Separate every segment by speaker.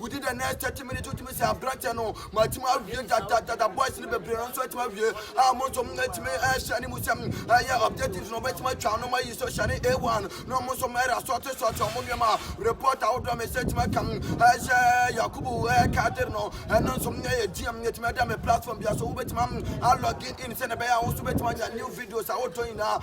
Speaker 1: Within the next thirty minutes wotumi sɛ aberanteɛ no matumi awie dadadada boys no bebree no nso atumi awie a mo nso atumi ɛhyɛ ne mu sɛm ɛyɛ objectives no ɔbɛtumi atwa no ma yi so hyɛ ne a1 na ɔmo nso ɛyɛ asɔte sɔte ɔmo nneɛma report ahodoɔ me sɛ atumi aka ɛhyɛ yakubu ɛkader no ɛno nso ɛyɛ gm atumi ada me platform bia so wobɛtumi a login in sɛ ne bɛyɛ a wo nso bɛtumi anya new videos ahodoɔ nyinaa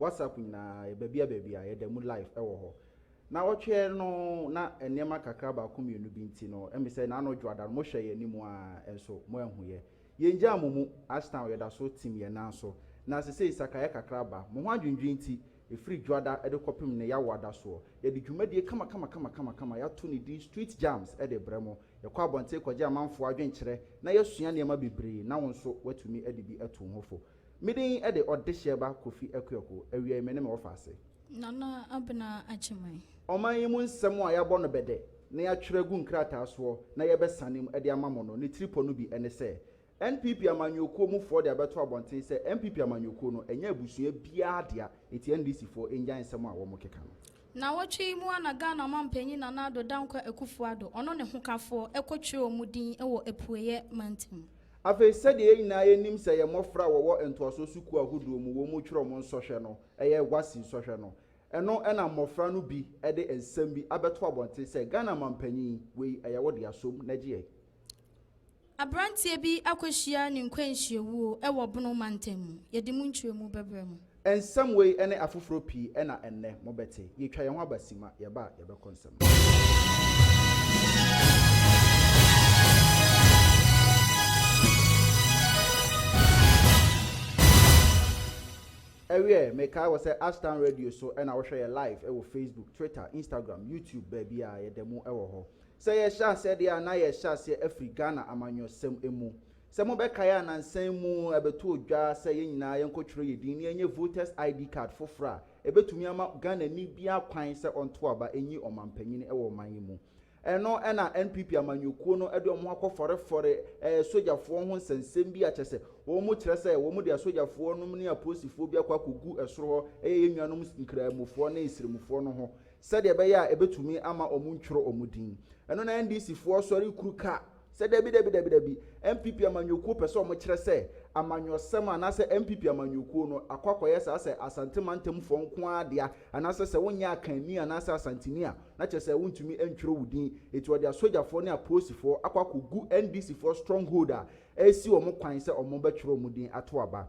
Speaker 2: WhatsApp nyinaa, yɛ baabi a baabi a yɛda mu live ɛwɔ hɔ. Na ɔtweɛ no na nneɛma kakra baako mmienu bi nti no ɛmi sɛ na ano dwoada no mo hwɛ yɛ anim a ɛnso mo ɛnhu yɛ. Yɛn gyaa mo mu, Ashtown yɛda so tim yɛn nan so. Na sesei sakaeɛ kakra aba, mo ho adwendwen nti, ɛfiri dwoada ɛde kɔpem nnɛ yawo adasoɔ, yɛde dwumadie kamakamakamakama yato ne din Street Jams ɛde brɛ mo. Yɛkɔ abɔnten kɔgye amanfoɔ adwenkyerɛ na yɛsua nneɛma bebree na wo nso watumi ɛde bi atu wo ho fo. Me din de Ɔdehyɛba Kofi Akuaku, awiei me ne me wɔfa ase. Nana Abena
Speaker 3: Agyemang. Ɔman yi mu
Speaker 2: nsɛm a yɛabɔ no bɛdɛ na yɛatwerɛ agu nkrataa soɔ na yɛrebɛsane mu de ama mo no, ne tiripɔ no bi ne sɛ, NPP amanyɔkuo mu foɔ de abɛto abɔnten sɛ NPP amanyɔkuo no ɛnyɛ abusua biara dea, enti NDC foɔ nnyae nsɛm a wɔrekeka no. Nnawɔtwe yi mu
Speaker 3: ara na Ghana Ɔmampanyin Nana Addo Dankwa Akufo-Addo, ɔno ne hokafoɔ, kɔtwerɛɛ wɔn din wɔ Apueeɛ Mantam. Afei, sɛdeɛ yɛn
Speaker 2: nyinaa yɛnim sɛ yɛn mmɔfra a wɔwɔ ntoasoɔ sukuu ahodoɔ mu wɔn mu twerɛ wɔn nsɔhwɛ no yɛ WASSCE nsɔhwɛ no, ɛno na mmɔfra no bi de nsɛm bi abɛto abɔnten sɛ, Ghana Mampanyin, wei yɛ wo dea, som na gye yɛn.
Speaker 3: Aberanteɛ bi akɔhyia ne nkwanhyiawuo wɔ Bono mantam mu. Yɛde mu nkyerɛmu bɛbrɛ mo. Nsɛm wei
Speaker 2: ne afoforɔ pii na ɛnnɛ mobɛte. Yɛtwa yɛn ho aba Sima, yɛba a yɛbɛkɔ nsɛm no so. Ɛwiɛ, mekae wɔ sɛ Ashtown Radio so na wohwɛ yɛ live wɔ Facebook, Twitter, Instagram, YouTube, baabiara, yɛda mu wɔ hɔ. Sɛ yɛhyɛ aseɛ deɛ a na yɛhyɛ aseɛ afiri Ghana amanyɔsɛm mu. Sɛ mobɛkae a nansa yi mu ɛbɛtoo dwa sɛ yɛn nyinaa yɛnkɔtwerɛ yɛn din na yɛnyɛ Voters ID card foforɔ a ɛbɛtumi ama Ghanani biara kwan sɛ ɔnto aba nyi ɔmanpanin wɔ ɔman yi mu. Ɛno na NPP amanyɔkuo no de wɔn ho akɔfɔrefɔre sogyafoɔ ho nsɛnsɛm bi a kyerɛ sɛ wɔn kyerɛ sɛ wɔn de asogyafoɔ nom ne apolisifoɔ bi akɔ akɔgu soro hɔ yɛ yɛn nuanom Nkramofoɔ ne Sremufoɔ no ho sɛdeɛ ɛbɛyɛ a ɛbɛtumi ama wɔntwerɛ wɔn din. Ɛno na NDC foɔ sɔre kuru ka sɛ dabi dabi dabi dabi, NPP amanyɔkuo pɛ sɛ wɔkyerɛ sɛ amanyɔsɛm anaasɛ NPP amanyɔkuo no akɔ akɔyɛ saa sɛ Asante mantamfoɔ nko ara dea anaasɛ sɛ wonyɛ Akanni anaasɛ Asanteni a na kyerɛ sɛ wontumi ntwerɛ wo din enti wɔde asogyafoɔ ne apolisifoɔ akɔ akɔgu NDC foɔ stronghold a ɛresi wɔn kwan sɛ wɔbɛtwerɛ wɔn din ato aba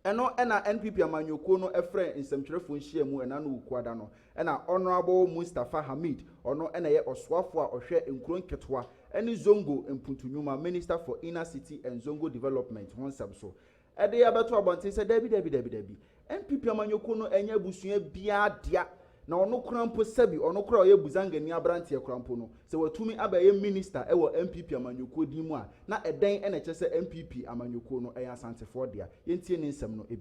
Speaker 2: Ɛno na NPP amanyɔkuo no frɛ nsɛmtwerɛfoɔ nhyiamu ɛna no Wukuada no. Ɛna Honourable Mustapha Hamid, ɔno na ɛyɛ ɔsoafoɔ a ɔhwɛ nkuro nketewa ne Zongo mpuntu nnwuma, Minister for Inner City and Zongo Development, ho nsɛm so de abɛto abɔnten sɛ dabi dabi dabi dabi, NPP amanyɔkuo no ɛnyɛ abusua biara dea Na ɔno koraa mpo, sɛbi, ɔno koraa a ɔyɛ Buzangani aberanteɛ koraa mpo no, sɛ watumi abɛyɛ Minista wɔ NPP amanyɔkuo din mu a, na ɛdɛn na ɛkyerɛ sɛ NPP amanyɔkuo no yɛ Asantefoɔ dea? Yɛntie ne nsɛm no bi.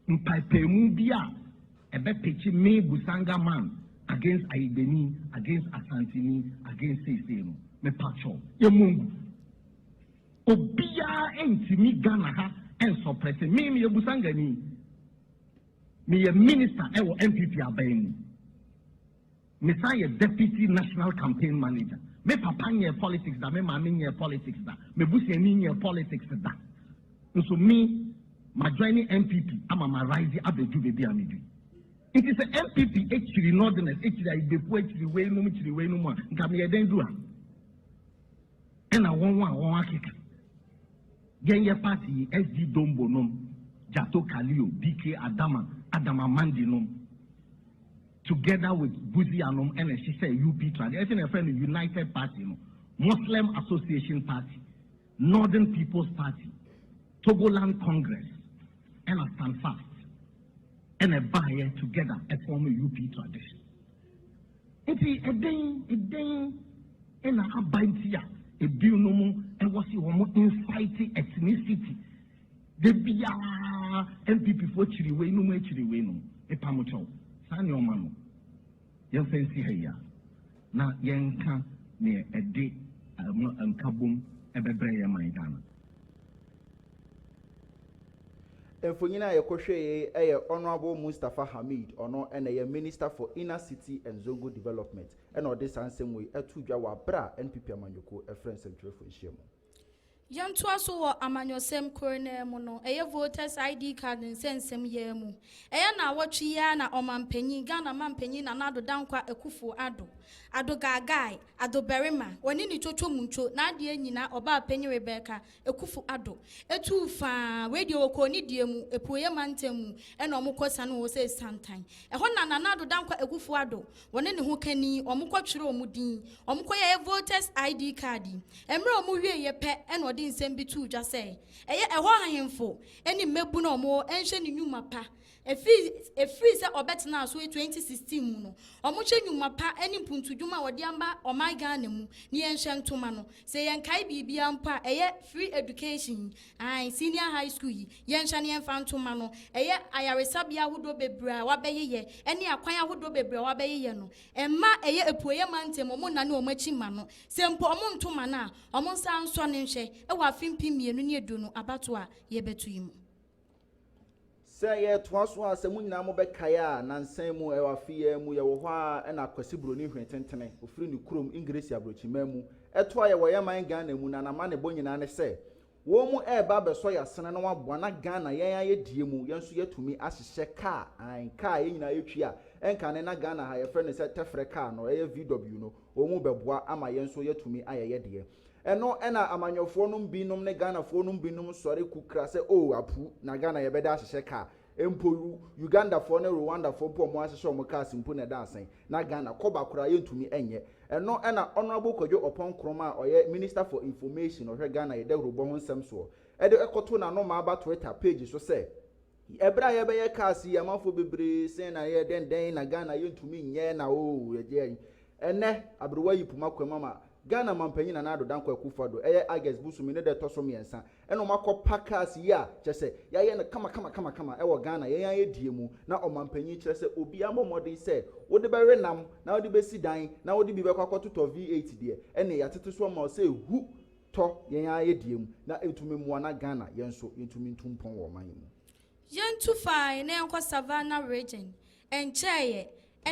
Speaker 2: Mpaepaemu
Speaker 4: bi a ɛbɛpekye me Busanga man against Ayigbeni, against Asanteni, against seisei no, mepatwɔw, yɛmmɔ ngu. Obiara ntumi Ghana ha nsɔprɛse me, meyɛ Busangani. Meyɛ minista wɔ NPP aban mu. Mesan yɛ Deputy National Campaign Manager. Me papa nyɛɛ politics da, me maame nyɛɛ politics da, m'abusuani nyɛɛ politics da. Nso me, majoine NPP ama marise abɛdu baabi a medu yi. Nti sɛ NPP kyiri Northerners, kyiri Ayigbefoɔ, kyiri weinom, kyiri weinom a, nka meyɛ dɛn duru ha? Ɛna wɔn a wɔakeka. Yɛn yɛ party yi SD Dombo nom, Jato Kalio, BK Adama, Adam Amandi nom together with Buzia nom na ɛhyehyɛɛ UP tradi, ɛfei na yɛfrɛ no United Party no, Muslim Association Party, Northern People's Party, Togoland Congress ɛna Standfast ɛna ɛbaeɛ together ɛform UP tradition. Enti ɛdɛn ɛdɛn na aba nti a ebinom ɛwɔ se wɔn incite ethnicity de biara NPP foɔ kyiri wei nom akyiri wei nom epam kyɛw saa nneɛma no yɛn fɛn si ha yi a na yɛn nka neɛ ɛde ɛmo nkabom ɛbɛbrɛ yɛn man Ghana.
Speaker 2: Mfonyin a yɛkɔhwɛe yi yɛ Honourable Mustapha Hamid, ɔno na ɔyɛ Minister for Inner City and Zongo Development na ɔde saa nsɛm wei too dwa wɔ aber a NPP amanyɔkuo frɛɛ nsɛmtwerɛfoɔ nhyiam. Yɛntoa
Speaker 3: so wɔ amanyɔsɛm kor no ara mu no, ɛyɛ Voters ID Card nsɛnsɛm yi ara mu. Ɛyɛ naawɔtwe yi ara na Ɔmampanyin, Ghana Mampanyin Nana Addo Dankwa Akuffo Addo, Addo Gaagai, Addo Barima, ɔne ne Twotwo Muntwo, n'adeɛ nyina, Ɔbaapanyin Rebecca, Akufo Addo tuu faa wei deɛ wɔ Koonidie mu, Apueɛ mantam mu ɛna wɔn kɔ sane wɔ sɛ Santan. Ɛhɔ na Nana Addo Dankwa Akufo Addo, wɔne ne ho kani, wɔn kɔ twerɛ wɔn din, wɔn kɔ yɛɛ voters ID card. Mmerɛ wɔn wiee yɛ pɛ ɛna ɔde nsɛm bi too dwa sɛ, ɛyɛ ɛhɔ ahenfo ɛne mmabunu a wɔn wɔ ɛnhwɛ ne nwuma pa Ɛfiri sɛ ɔbɛtenaa so 2016 mu no, wɔhwɛ nnwuma pa ne mpuntudwuma a wɔde ama ɔman Ghana mu ne yɛnhyɛ ntoma no. Sɛ yɛnkae biribiara mpo a, ɛyɛ Free Education yi, ae, Senior High School yi, yɛnhyɛ na yɛmfa ntoma no, ɛyɛ ayaresabea ahodoɔ bebree a wɔabɛyeyɛ ne akwan ahodoɔ bebree a wɔabɛyeyɛ no. Mma ɛyɛ Apueeɛ Mantam a wɔnnane wɔn akyi mma no. Sɛ mpo wɔnto ma no a, wɔnsan nsɔ no nhwɛ wɔ afe mpem mmienu ne aduonu abatoɔ a yɛrebɛto yi mu.
Speaker 2: Sɛ yɛtoa so a, sɛ mo nyinaa mobɛkae a, nnansa yi mu, ɛwɔ afe yi ara mu, yɛwɔ hɔ ara na Kwasi Buroni Hwetentene, ɔfiri ne kurom, Engiresi Aborɔkyimman mu, toa yɛ wɔ yɛn man Ghana mu, na n'amanebɔ nyinaa ne sɛ, wɔn reba abɛsɔ yɛn asene na wɔaboa na Ghana, yɛn ara yɛdie mu, yɛn nso yɛatumi ahyehyɛ kaa, aane, kaa a yɛn nyinaa yɛtwi a ɛnkane na Ghana ha yɛfrɛ no sɛ tɛfrɛ kaa no, ɛyɛ VW no, wɔn bɛboa ama yɛn nso yɛatumi ayɛ yɛdeɛ. Ɛno na amanyɔfoɔ nom binom ne Ghanafoɔ nom binom sɔre kukra sɛ oo apu na Ghana yɛbɛda ahyehyɛ car mpo Ugandafoɔ ne Rwandafoɔ mpo ɔmo ahyehyɛ ɔmo cars mpo na ɛda asɛn na Ghana kɔba koraa yɛntumi nyɛ ɛno na Honourable Kwadwo Ɔpɔn Nkrumah a ɔyɛ Minister for Information ɔhwɛ Ghana yɛ dawurubɔ ho nsɛm soɔ de kɔto n'anomaa ba Twitter page so sɛ Ɛberɛ a yɛbɛyɛ cars yi amanfoɔ bebree sɛn na yɛ dɛn dɛn na Ghana yɛntumi nyɛ na oo yɛgye ayi ɛnɛ aberewa yi poma kwam ama Ghana manpanyin Nana Addo Dankwa Akufo Addo ɛyɛ August bosome ne da ɛtɔ so mmiɛnsa ɛna wɔn akɔ pa cars yi a kyerɛ sɛ yɛayɛ no kama kama kama kama ɛwɔ Ghana yɛn ara yɛ die mu na ɔmanpanyin kyerɛ sɛ obiara mmɔ mmɔden sɛ wode bɛwe nam na wode bɛsi dan na wode bi bɛkɔ akɔtotɔ V8 deɛ ɛneɛ yɛatete so ama wo sɛ hu tɔ yɛn ara yɛ deɛ mu na ɛtumi mmoa na Ghana yɛn nso yɛntumi ntu mpɔn wɔ ɔman yi mu. Yɛntu
Speaker 3: fine na yɛnkɔ Savannah Region. Ɛnkyɛeɛ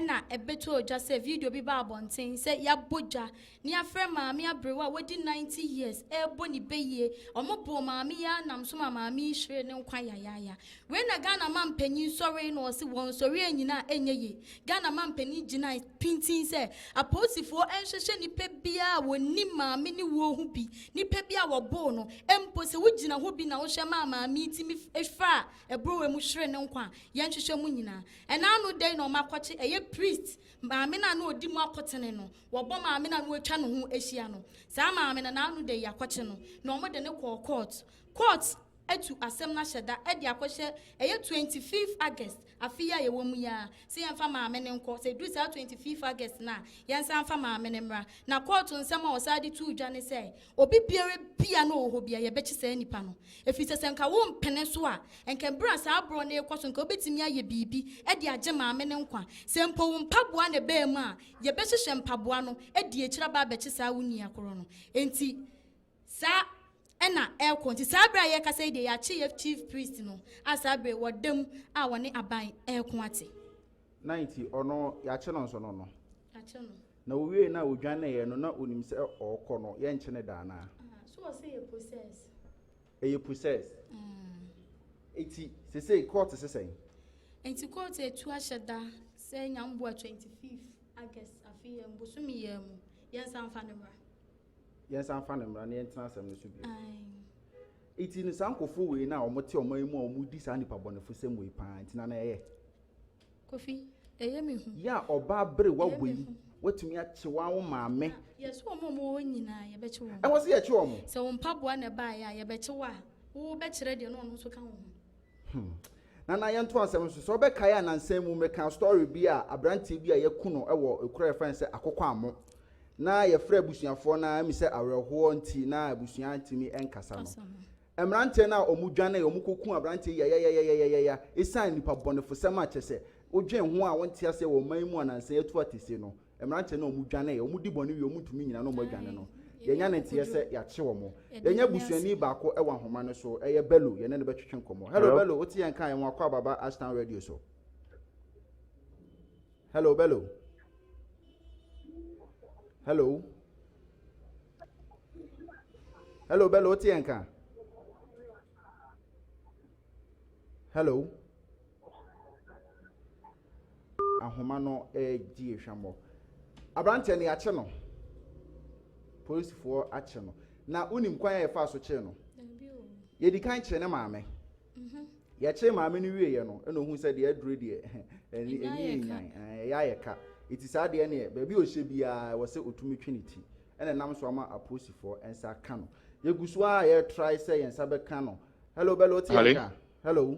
Speaker 3: na ɛbɛtɔɔ dwa sɛ video bi baa abɔnten sɛ yɛabɔ dwa na yɛafrɛ maame aberewa a wadi 90 years rebɔ ne bayie. Wɔboo maame yi ara nam so maa maame yi hweree ne nkwa yayaaya. Wei na Ghana mampanyin sɔree na ɔse wɔn nsɔreɛ nyinaa ɛnyɛ yie. Ghana mampanyin gyinae pintinn sɛ apolisifoɔ ɛnhwɛhwɛ nnipa biara a wɔnnim maame ne wuo ho bi, nnipa bi a wɔboo no mpo, sɛ wogyina hɔ bi na wohwɛ maa maame yi tumi faa aburowa mu hweree ne nkwa a, yɛnhwehwɛ mo nyinaa. Ɛna ano da yi na wɔakɔkye ɛyɛ priest maame no a na ɔdi mu akotene no, wɔbɔ maame no a na wɔatwa ne ho ahyia no. Saa maame no, ɛna ano da yi yɛakɔkye no na wɔde no kɔɔ kɔɔto. Kɔɔto. atu asɛm no ahyɛ da de akɔhyɛ ɛyɛ twenty fifth August afe yi a yɛwɔ mu yi ara sɛ yɛmfa maame no nkɔ, sɛ ɛduru saa twenty fifth August no a yɛnsan mfa maame no mmra. Na kɔɔto nsɛm a wɔsan de too dwa ne sɛ obi biara bi a na ɔwɔ hɔ biara yɛbɛkye saa nipa no ɛfiri sɛ sɛ nka wompene so a nka berɛ a saa borɔ no rekɔ so nka wobɛtumi ayɛ biribi de agye maame no nkwa, sɛ mpo wo mpaboa na ɛbaa mu a yɛbɛhyehyɛ mpaboa no de akyire aba abɛkye saa wo nua korɔ no. Enti. Saa na ɛrekɔ. Nti saa bere a yɛrekasa yi deɛ, yɛakye yɛn chief priest no a saa bere wɔda mu a wɔne aban reko ate. Na nti
Speaker 2: ɔno yɛakye no nso no no. Yɛakye no.
Speaker 3: Na owiei no a
Speaker 2: odwaneeɛ no, na onim sɛ ɔrekɔ no, yɛrenkye no da
Speaker 3: anaa?
Speaker 2: Ah,
Speaker 3: so ɔsɛ
Speaker 2: yɛ
Speaker 3: process. Ɛyɛ
Speaker 2: process.
Speaker 3: Mm.
Speaker 2: Eti sesei court se sɛn? Nti court
Speaker 3: etu ahyɛ da sɛ nyamboa 25 August afei yɛ mbosome yɛ mu yɛnsan fa no mmra. yɛnsan mfa
Speaker 2: ne mmara na yɛntena asɛm no so bio. Nti no saa nkɔfoɔ wei no a wɔte ɔman yi mu a wɔdi saa nnipa bɔnefo sɛm wei paa nti na na ɛyɛ. Kofi,
Speaker 3: ɛyɛ me hu. Yɛ a ɔbaa bere
Speaker 2: wawɔ yi watumi akye wɔn awo maame. Ah, yɛso wɔn a wɔwɔ hɔ
Speaker 3: nyinaa yɛbɛkye wɔn. Ɛwɔ sɛ yɛkye wɔn. Sɛ
Speaker 2: wɔn mpaboa na
Speaker 3: ɛbaeɛ a yɛbɛkye wɔ a wobɛkyerɛ deɛ na ɔno nso ka wɔn ho. Hmm.
Speaker 2: Nana yɛnto asɛm no so. Sɛ wobɛkae a nansa mu mekaa story bi a aberanteɛ bi a yɛku no wɔ ekura yɛfrɛ no sɛ akokɔ ammo. Na yɛfrɛ abusuafoɔ no ɛmi sɛ awerɛhoɔ nti na abusua ntumi nkasa no. Mmeranteɛ no a wɔn dwane wɔn kɔku aberanteɛ yayayayayaya ɛsiane nipa bɔnefosɛm a kyɛ sɛ wodwen ho a wonte aseɛ wɔ ɔman yi mu a nansa yɛatu atese no. Mmeranteɛ no a wɔn dwaneeɛ, wɔn di bɔne wie wɔn ntumi nyina na wɔn adwane no, yɛnya ne nteɛ sɛ yɛakye wɔn. Yɛnya busuani baako wɔ ahoma no so, ɛyɛ Bello, yɛne no bɛtwetwe nkɔmmɔ. Hello Bello, wote yɛn nka a yɛwɔ Akwa Ababa Ashtown Radio so. Hello Bello. Hello. Hello Bello, wote yɛn nka? Hello. ahoma no redi hwammɔ. Aberanteɛ no, yɛakye no. Polisifoɔ akye no. Na wonim kwan a yɛfaa so kyee no? Yɛdi kan kyee ne maame. Mhm. Yɛkyee maame no wieeɛ no, ɛna ohun sɛ deɛ aduro deɛ ɛni ɛni nyan ɛyɛ ayɛ ka. Eti saa deɛ neɛ baabi a ɔhyɛ biara wɔ sɛ otumi twe ne ti. Ɛna nam so ama apolisifoɔ nsa aka no. Yɛgu so a yɛretrae sɛ yɛn nsa bɛka no. Hello, bɛlɛ ɔte yɛn ka? Hello.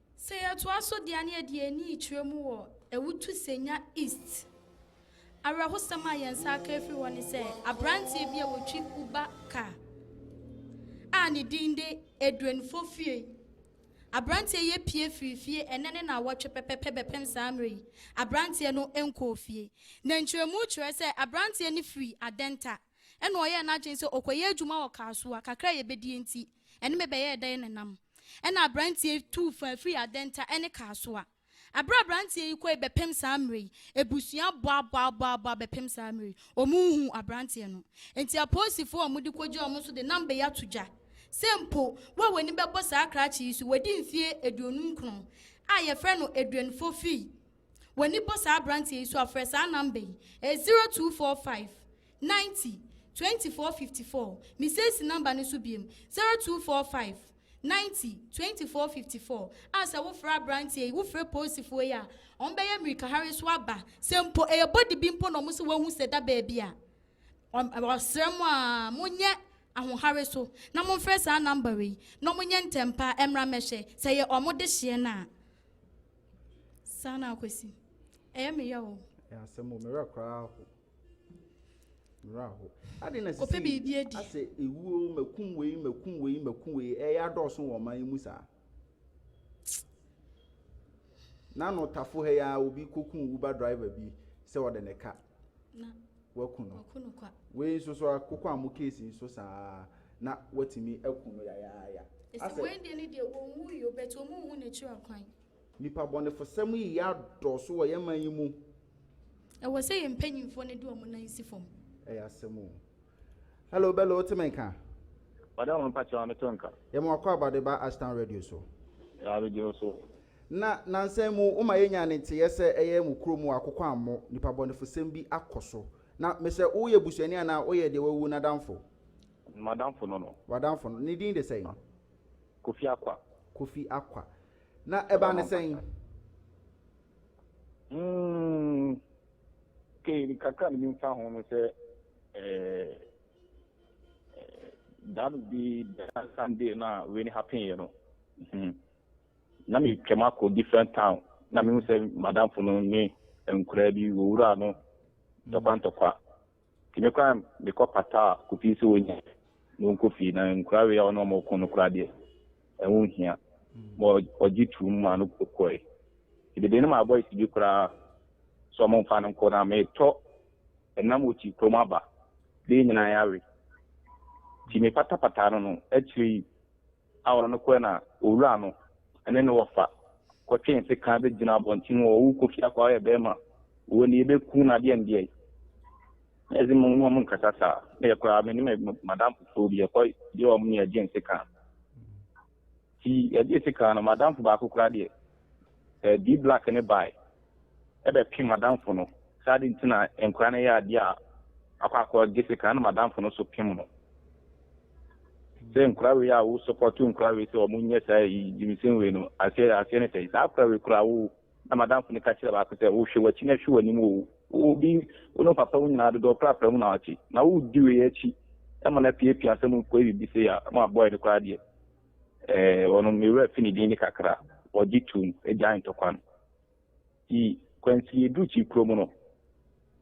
Speaker 3: Sɛ yɛtoa so de ani adi yɛn ani kyerɛ mu wɔ Awutu Senya East, awerɛhosɛm a yɛn nsa aka afiri hɔ ne sɛ aberanteɛ bi a wɔtwi Uber car a ne din de Edwin Fofie. Aberanteɛ yi apue firii fie ɛnnɛ ne nnawɔtwe pɛpɛpɛ bɛpem saa mmerɛ yi, aberanteɛ no nkɔɔ fie. Na nkyerɛmu kyerɛ sɛ aberanteɛ no firii Adenta. ɛnna ɔyɛɛ n'adwene sɛ ɔkɔyɛ adwuma wɔ kar so a kakra a yebedie nti, ɛne me bɛyɛɛ dɛn na nam. Ɛnna aberanteɛ yi tuu faa firii adɛnta ne kar so a. Bere a aberanteɛ yi kɔe bɛpem saa mmerɛ yi, abusua boaboaboaboa bɛpem saa mmerɛ yi, wɔnhuu aberanteɛ no. Enti apolisifoɔ a wɔde kɔgyinaa wɔn so de nam bɛyɛ ato dwa sɛ mpo wo a w'ani bɛbɔ saa krakye yi so, wadi mfeɛ aduonum nkron a yɛfrɛ no Adrian Fofie, W'ani bɔ saa aberanteɛ yi so a, frɛ saa namba yi, ɛyɛ 0245 90 24 54. Mesie si namba no so biom, 0245 90 24 54, a sɛ wofrɛ aberanteɛ yi, wofrɛ polisifoɔ yi a, wɔbɛyɛ mmirikahare so aba. Sɛ mpo ɛyɛ body bi mpo na wɔn se wɔahu sɛ da baabi a, wɔsrɛ mo a, monyɛ ahohare so na momfrɛ saa namba wei, na wɔnyɛ ntɛmpa mmra mmɛhwɛ sɛ ɛyɛ wɔn dehyeɛ no a. Saa na akwasi. Ɛyɛ me yaw o. Ɛyɛ asɛm o, me werɛ
Speaker 2: koraa aho. Me werɛ aho. Ade na sisi. Ɔpɛ biribi adi. Asɛ
Speaker 3: ewuo
Speaker 2: makum wei makum wei makum wei ɛyɛ adɔɔso wɔ ɔman yi mu saa. Nano tafo ha yi ara obi kɔkum Uber driver bi sɛ ɔde ne ka. Na
Speaker 3: Wɔaku no. Wɔaku
Speaker 2: no kwa. Wei
Speaker 3: nso so ara,
Speaker 2: koko ammo case nso saa ara, na wɔatumi aku no yayaaya. Esi wei deɛ ne
Speaker 3: deɛ ɔnwuui o, but wɔn nhu n'akyiri akwan. Nnipa bɔnefosɛm
Speaker 2: yi yɛ adɔɔso wɔ yɛn man yi mu. Ɛwɔ
Speaker 3: sɛ yɛn mpanyinfoɔ no de wɔn nan si fam. Ɛyɛ asɛm o.
Speaker 2: Hello Bello wote me nka? Madam
Speaker 5: mpakyɛw mete wo nka. Yɛma wakɔ Abadeba
Speaker 2: Ashtown Radio so. Yaa mede wo
Speaker 5: so. Na nansa
Speaker 2: mu woma yɛnya ne nteyɛ sɛ ɛyɛ mo kuro mu akokwammɔ nipa bɔnefosɛm bi akɔ so. Na mesɛ woyɛ busuani anaa woyɛ deɛ wawu no adamfo? M'adamfo
Speaker 5: no no. W'adamfo no. Ne din de
Speaker 2: sɛn? Kofi
Speaker 5: Akwa. Kofi Akwa. Na
Speaker 2: ɛbaa no sɛn? Mm,
Speaker 5: okay, ne kakra ne menim fa ho no sɛ eh, eh, that would be the Sunday na wei ne happen yɛ no. Mm -hmm. na metwam akɔ different town na mehu sɛ madamfo no ne nkoraa bi wɔwuraa no ntɔkwa ntɔkwa nti me koraa mekɔ pataa kɔpii sɛ wɔnya na wɔnkɔ fie na nkoraa wei a ɔne ɔma ɔko no koraa deɛ ɛho nhia ma ɔgye tuom ma no kɔe nti mede no ma boys bi koraa sɛ ɔmo mfa no nkɔ na metɔ ɛnam ɔkyi kurom aba bɛɛ nyinaa yɛawe nti mepatapataa no no akyire yi a ɔne no kɔe na owuraa no ne no wɔfa kɔtwee nse kan begyinaa abɔnten hɔ, Owu Kofi Akwa ɔyɛ bɛrima, owu nie bɛku no adeɛn deɛn? Na yɛse mo ne ɔmo nkasa saa, na yɛ koraa me ne me madamfo foforɔ bi yɛkɔ yɛ ɔmo ne yɛgye nse kan. Nti yɛgye nse kan no madamfo baako koraa deɛ, ɛɛ D-Black ne bae. bɛpem m'adamfo no sɛ adɛn nti na nkwadaa no yɛ adeɛ a akɔ akɔgye sika na m'adamfo no nso pem no sɛ nkwadaa wei a wo support nkwadaa wei sɛ wɔn nyɛ saa yi gyiminsɛm wei no aseɛ aseɛ ne sɛ saa akwadaa wei koraa wo na m'adamfo no ka kyerɛ baako sɛ wohwɛ w'akyi na hwɛ w'anim o obi wo ne papa wo nyinaa dodoɔ koraa pɛ mu na wakye na wodi wei akyi ɛma no apiapia sɛ mo nkɔɛ biribi sɛ yɛ ma abɔɛ no koraa deɛ ɛɛ wɔn mewura fi ne din ne kakra wɔgye tum agya ntɔkwa no Nti kwansin yɛduru Kyi kurom no na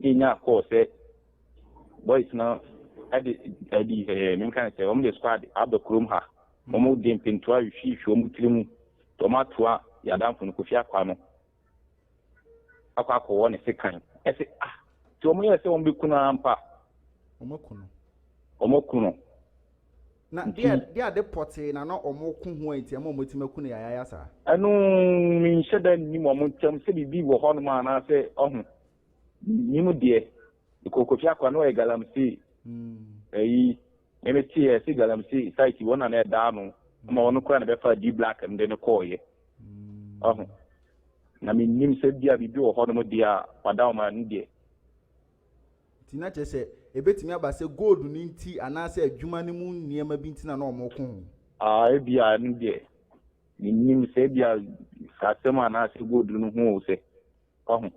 Speaker 5: yɛnya call sɛ boys no de ɛbi ɛɛ menka ne sɛ wɔn de squad aba kurom ha wɔn de mpentoa ahwihwihwi wɔn tiri mu nti wɔn atoa yɛadanfo no Kofi Akwa no akɔ akɔwɔ ne sekan ɛsɛ ah nti wɔn yɛ sɛ wɔn bɛku no ara mpa wɔn aku no wɔn aku no Na
Speaker 2: deɛ deɛ ade pɔtee na na wɔn ko ho a nti ɛma wɔn atumi aku no yayaaya saa. Ɛno
Speaker 5: me nhyɛ da nnim wɔn ntɛm sɛ biribi wɔ hɔ nom a anaasɛ ɔho me nim deɛ me kɔ kofi akora na ɔyɛ galamsey ɛyi me me te yɛ sɛ galamsey site wɔn na na ɛda ano ama wɔn kora na bɛfa di black no de no kɔɔ yɛ ɔho na me nim sɛ bia biribi wɔ hɔ nom deɛ a wada wɔn ani deɛ.
Speaker 2: Nti na kyerɛ sɛ ebetumi aba sɛ gold no nti anaasɛ adwuma no mu nneɛma bi nti na na wɔko ho. Ah, ebia ɛno
Speaker 5: deɛ, mennim sɛ ebia asɛm anaasɛ gold no ho o sɛ, wahu.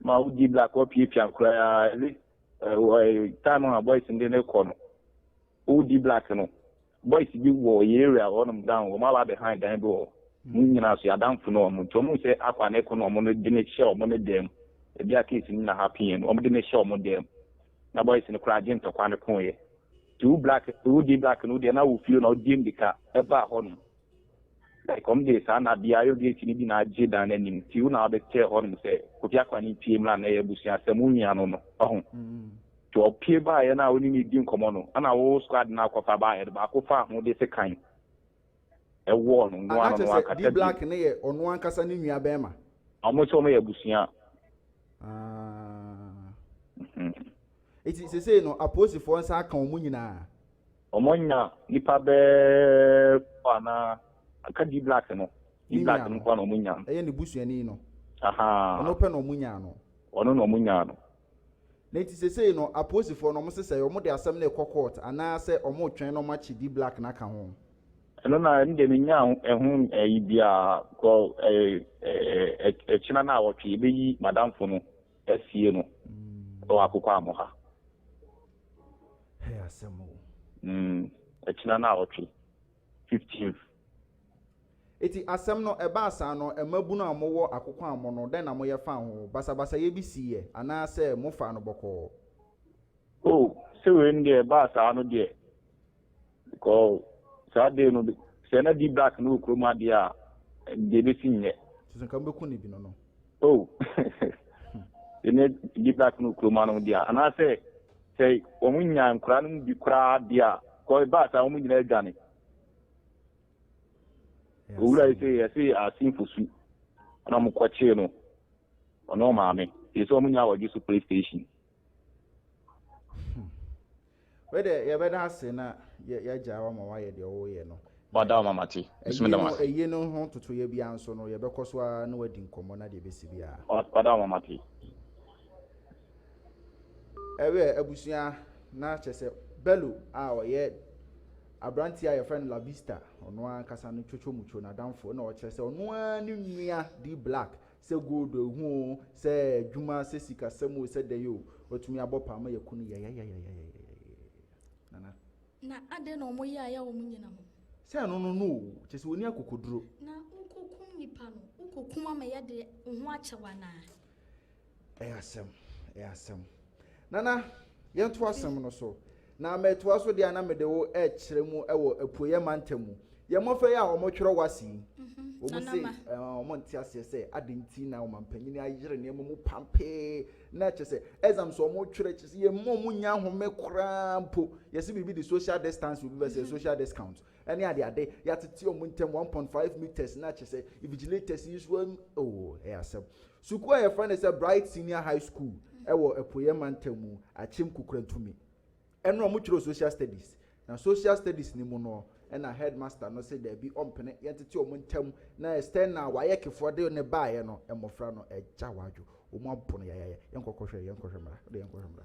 Speaker 5: Ma wodi black wapiapia koraa, ɛne eh, eh, time a boys no de no kɔ no, wodi black no, Boys bi wɔ yɛ area hɔ nom down wɔn aba abɛ han dan bi wɔ hɔ wɔn nyinaa so yɛ adanfo ne wɔn nti wɔn hu sɛ akwa ne ko no wɔn no de no hyɛ wɔn no dan mu ebi a case no na happen yɛ no wɔn de no hyɛ wɔn dan mu na boys no koraa agye ntɔkwa no ko yɛ nti wo black wo di black no deɛ na wo fie na wo di mirika ɛbaa hɔ nom Ɛkɔm dee saa na bia yo gate no bi na agye dan no anim nti wo na wabɛteɛ hɔ nom sɛ Kofi Akwane pie mmra na ɛyɛ abusua asɛm wo nua no no wahu nti ɔpie baeɛ no a wo ne no redi nkɔmɔ no ɛna wo squad no akɔfa baeɛ no baako faa ho de sekan ɛwɔɔ no noa no noa kasa bio. Ana kyɛ sɛ D-Black no yɛ
Speaker 2: ɔno ankasa ne nua bɛɛma? Ɔmo sɛ ɔmo yɛ abusua.
Speaker 5: Ah.
Speaker 2: Nti sesei no apolisifoɔ nsa aka ɔmo nyinaa? Wɔanya
Speaker 5: nnipa bɛɛ kɔ anaa? Anka D black no. D black no nkoa na wɔnya no. Ɛyɛ ne busuani no.
Speaker 2: Ahaa. Ɔno pɛ
Speaker 5: na wɔnya no.
Speaker 2: Ɔno na wɔnya no.
Speaker 5: Na enti
Speaker 2: sesei no aposifoɔ no wɔsesɛe, wɔde asɛm no rekɔ court anaa sɛ wɔretwɛn na wɔakye D black no aka ho? Ɛno na ɛno
Speaker 5: deɛ mennya ɛho ɛyi biaa cause ɛkyena no a wɔtwe yɛbɛyi madamfo no asie no wɔ akokoamɔ ha.
Speaker 2: Hɛ asɛm o. Mm,
Speaker 5: ɛkyena naawɔtwe, fifteenth.
Speaker 2: Eti asɛm no ɛbaa saa no, mmabunu a mowɔ akokoaa mo no, dɛn na moyɛ faa ho? Basabasayɛ bi siiɛ, anaa sɛ mofaa no bɔkɔɔ? Oh,
Speaker 5: sɛ wei no deɛ ɛbaa saa no deɛ, Because saa day no sɛ na D black no wɔ kurom ha deɛ a deɛ ɛbɛsi nyɛ. Te sɛ nka mo bɛku ne bi
Speaker 2: no no. Oh
Speaker 5: sɛ na D black no wɔ kurom ha no deɛ a anaasɛ sɛ wɔn nya nkora no mu bi koraa deɛ a kɔ ɛbaa saa wɔn nyinaa adwane. Owura yi sɛ yɛse asenfo su na wɔn kɔkyee no ɔne ɔmaame yɛ sɛ wɔn nyinaa wɔgye so play station.
Speaker 2: Wei de yɛbɛda ase na yɛagyae wo ama woayɛ deɛ woyɛ no. Wada ama mate.
Speaker 5: Mesome da ase. Ɛyi no ho totoyɛ
Speaker 2: biara nso no yɛbɛkɔ so ara na wadi nkɔmmɔ na deɛ ɛbɛsi biara. Wada ama mate. Ɛwɛ abusua na kyɛ sɛ Bello a ɔyɛ aberanteɛ a yɛfrɛ no La Vista ɔno ankasa no twotwo mucho n'adamfo na ɔkyerɛ sɛ ɔno ara ne nua D Black Sɛ gold o, ehu o, sɛ adwuma, sɛ sikasɛm o, sɛ dɛn o, watumi abɔ paa ma yɛaku no yayayayayayayayaya. Nana.
Speaker 3: Na adɛn na wɔyɛ a ɛyɛ a wɔn nnyina ho? Sɛ ɛno no no o,
Speaker 2: kyerɛ sɛ wɔnni akokoduro. Na wokokum
Speaker 3: nnipa no, wokokum ama yɛde wo ho akyɛ wo anaa? Ɛyɛ asɛm,
Speaker 2: ɛyɛ asɛm. Nana, yɛntoa asɛm no so. Na metoa so dea na mede wo rekyerɛ mu wɔ Apueɛ mantam mu. Yɛn mmɔfra yi a wɔtwerɛ w'ase yi, wɔn se wɔnte
Speaker 3: aseɛ
Speaker 2: sɛ adɛn nti na ɔmampanin ayere nneɛma mu pampee, na kyerɛ sɛ exams a wɔtwerɛ kyerɛ sɛ yɛmma wɔn nnya nhome koraa mpo. Yɛse biribi de social distance, obi bɛsɛ social discount, ɛne adeade, yɛatete wɔn ntam one point five metres, na kyerɛ sɛ invigilators yi nso, oh, ɛyɛ asɛm. Sukuu a yɛfrɛ no sɛ Bright Senior High School wɔ Apueɛ Mantam mu Akyem Kukurantumi ɛno na ɔmo kyerɛw Social Studies na Social Studies no mu no na Headmaster no se daabi ɔmpene yɛntete ɔmo ntam na External Wayɛkefoɔ de no baeɛ no mmofra no agyaw adwo ɔmo apo no yayaya yɛnkɔkɔhwɛ yɛnkɔhwɛ mmra wode yɛnkɔhwɛ mmra.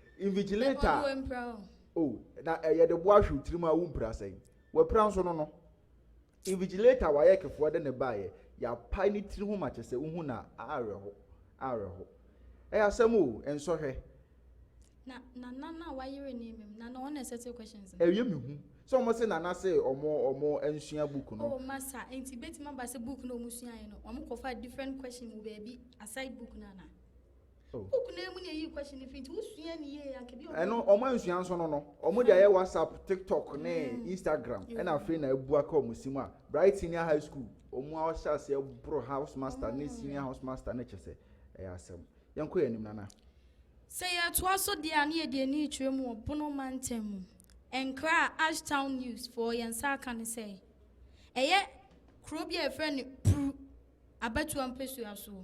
Speaker 2: Invigilator a oh, na eh, yɛde boa hwe wo tirim a wompira sɛn wapira nso no no Invigilator a wayɛ kefoɔ de ne baeɛ yɛapae ne tiri ho ma kyɛ sɛ wohu na awerɛho awerɛho ɛyɛ asɛm o nsɔhwɛ na
Speaker 3: na na na wayere ne mmem na na ɔna settle questions no ɛyɛ me hu
Speaker 2: sɛ ɔmo se nana se ɔmo ɔmo nsua book no oh masa nti
Speaker 3: betumi aba sɛ book no ɔmo suaeɛ no ɔmo kɔfa different question wɔ baabi aside book no ana Wo kunu amu na eyi question no firi nti wosua ne yie anka bi a Ɛno wɔn ansua nso
Speaker 2: no no wɔn de ayɛ whatsapp tiktok ne mm. instagram ɛna afei na abu aka wɔn si mu a bright senior high school wɔn a ɔhyɛ aseɛ boro house master ne senior house master ne kyɛ sɛ ɛyɛ asɛm yɛn kɔ yɛn anim nana. sɛ
Speaker 3: yɛtoa so deɛ a ne yɛde ani rekyerɛ mu wɔ bono mantam mu nkra a ashtown news foɔ yɛn nsa aka ne sɛ ɛyɛ kuro bi a yɛfrɛ no puru abatoa mpɛsua soɔ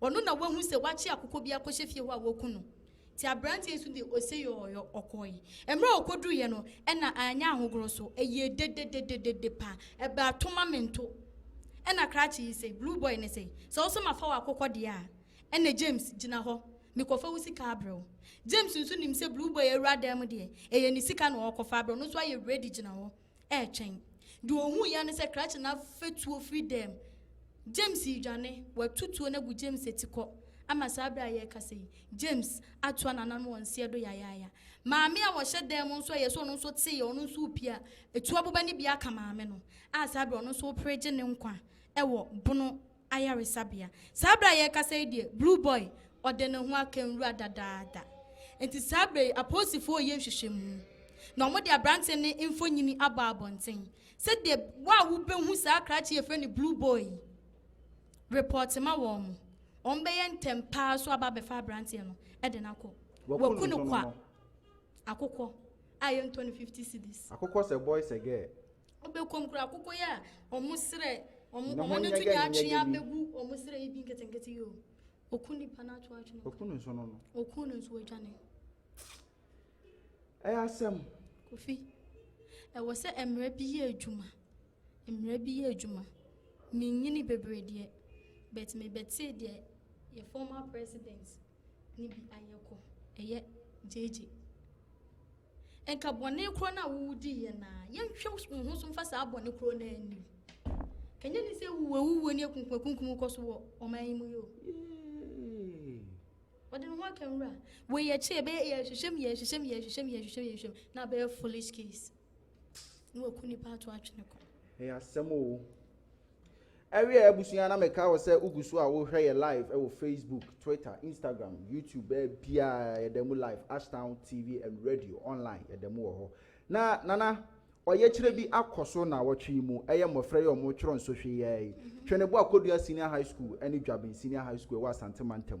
Speaker 3: Ɔno na wahu sɛ wakye akokɔ bi akɔhyɛ fie hɔ a waku no. Nti aberanteɛ yi nso de oseyɔɔyɔ ɔkɔɔe. Mmerɛ a ɔkɔduruiɛ no ɛna anyɛ ahogorɔ so, ɛyɛɛ dedededede pa, ɛbaa tomamento. Ɛna krakye yi se, blue boy no se, sɛ wo se mafa w'akokɔ deɛ a, ɛnɛ James, gyina hɔ, mekɔfa wo sika abrɛ wo. James nso nim sɛ blue boy awura dan mu deɛ, ɛyɛ ne sika na ɔɔkɔfa abrɛ, ɔno nso ayɛ ready gyina hɔ. retwɛn. Deɛ ɔhuu yɛ ne sɛ krakye no afɛ tuo firi dɛm. James redwane, watu tuo no agu James akyi kɔ ama saa berɛ a yɛrekasa yi, James atoa n'anan wɔ nseɛ do yayaaya. Maame a ɔhyɛ dan mu nso a ɛyɛ sɛ ɔno nso tee yɛ, ɔno nso repie a, ɛtu aboba no bi aka maame no a saa berɛ ɔno nso repere gye ne nkwa wɔ bono ayaresabea. Saa berɛ a yɛrekasa yi deɛ, Blue Boy ɔde ne ho aka nwura dadaada. Enti saa berɛ yi, apolisifoɔ reyɛ nhwehwɛmu, na wɔde aberanteɛ no mfonini abɔ abɔnten. Sɛdeɛ wo a wobɛhu saa krakye a yɛfrɛ no Blue Boy yi repɔɔte ma wɔn, wɔbɛyɛ ntɛm pa ara so aba abɛfa aberanteɛ no de no akɔ. Wɔaku no kwa akokɔ a yɛntɔ no 50 cedis. Akokɔ sɛ boy sɛ
Speaker 2: girl, Wobɛkɔm kura
Speaker 3: akokɔ yi a ɔmo serɛ ɔmo ɔmo ne to nya atwe abɛgu ɔmo serɛ yi bi nketenkete yi o oku nipa na ato atwe no oku no nso no no oku
Speaker 2: no nso adwane ɛyɛ asɛm kofi
Speaker 3: ɛwɔ sɛ mmerɛ bi yɛ adwuma mmerɛ bi yɛ adwuma menyini bebree deɛ but mebɛtee deɛ yɛ former president ne bi ayɛ kɔ ɛyɛ gyegye Nka bɔne korɔ no a wowudiiɛ no ara, yɛnhwɛ wo ho so mfa saa bɔne korɔ no ara nni wo. Ka nyɛ ne sɛ awuwu awuwuo ne akunkumakunkum rekɔ so wɔ ɔman yi mu yi o. Ɔde ne ho aka nwura. Wei akyi ɛbɛyɛ yɛhwehwɛm yɛhwehwɛm yɛhwehwɛm yɛhwehwɛm yɛhwehwɛm na abɛyɛ foolish case. Na waku nipa ato atwene kɔ. Ɛyɛ asɛm o.
Speaker 2: Ɛwia abusua na mekae wo sɛ wogu so a wohwɛ yɛ live ɛwɔ Facebook, Twitter, Instagram, YouTube baabiaa yɛda mu live Ashtown TV and Radio online yɛda mu wɔ hɔ. Na Nana ɔyɛkyerɛ bi akɔ so naawɔtwe yi mu ɛyɛ mmɔfra yi a wɔn twerɛ nsɔhwɛ yi ara yi Tweneboa Kodua Senior High School ɛne Dwaben Senior High School ɛwɔ Asante Mantam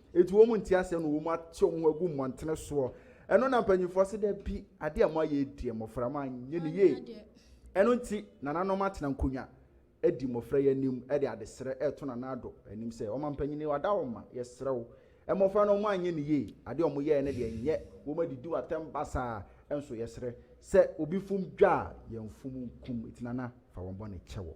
Speaker 2: Enti wɔn mu nte aseɛ na wɔn mu ate wɔn ho agu mmɔntene soɔ. Ɛno na mpanimfoɔ se dabi, adeɛ a moayɛ yi deɛ mmɔfra moanyɛ no yie. Ɛno nti nananom atena nkonnwa adi mmɔfra yi anim de adesrɛ reto Nana Addo anim sɛ, Ɔmampanin wada wo ma, yɛsrɛ wo, mmɔfra no wɔanyɛ no yie, adeɛ a wɔyɛeɛ no deɛ nyɛ, wɔadidi wo atɛm basaa nso yɛsrɛ, sɛ obi fom dwa a, yɛmfom nkum, enti Nana fa wɔn bɔne kyɛ wɔn.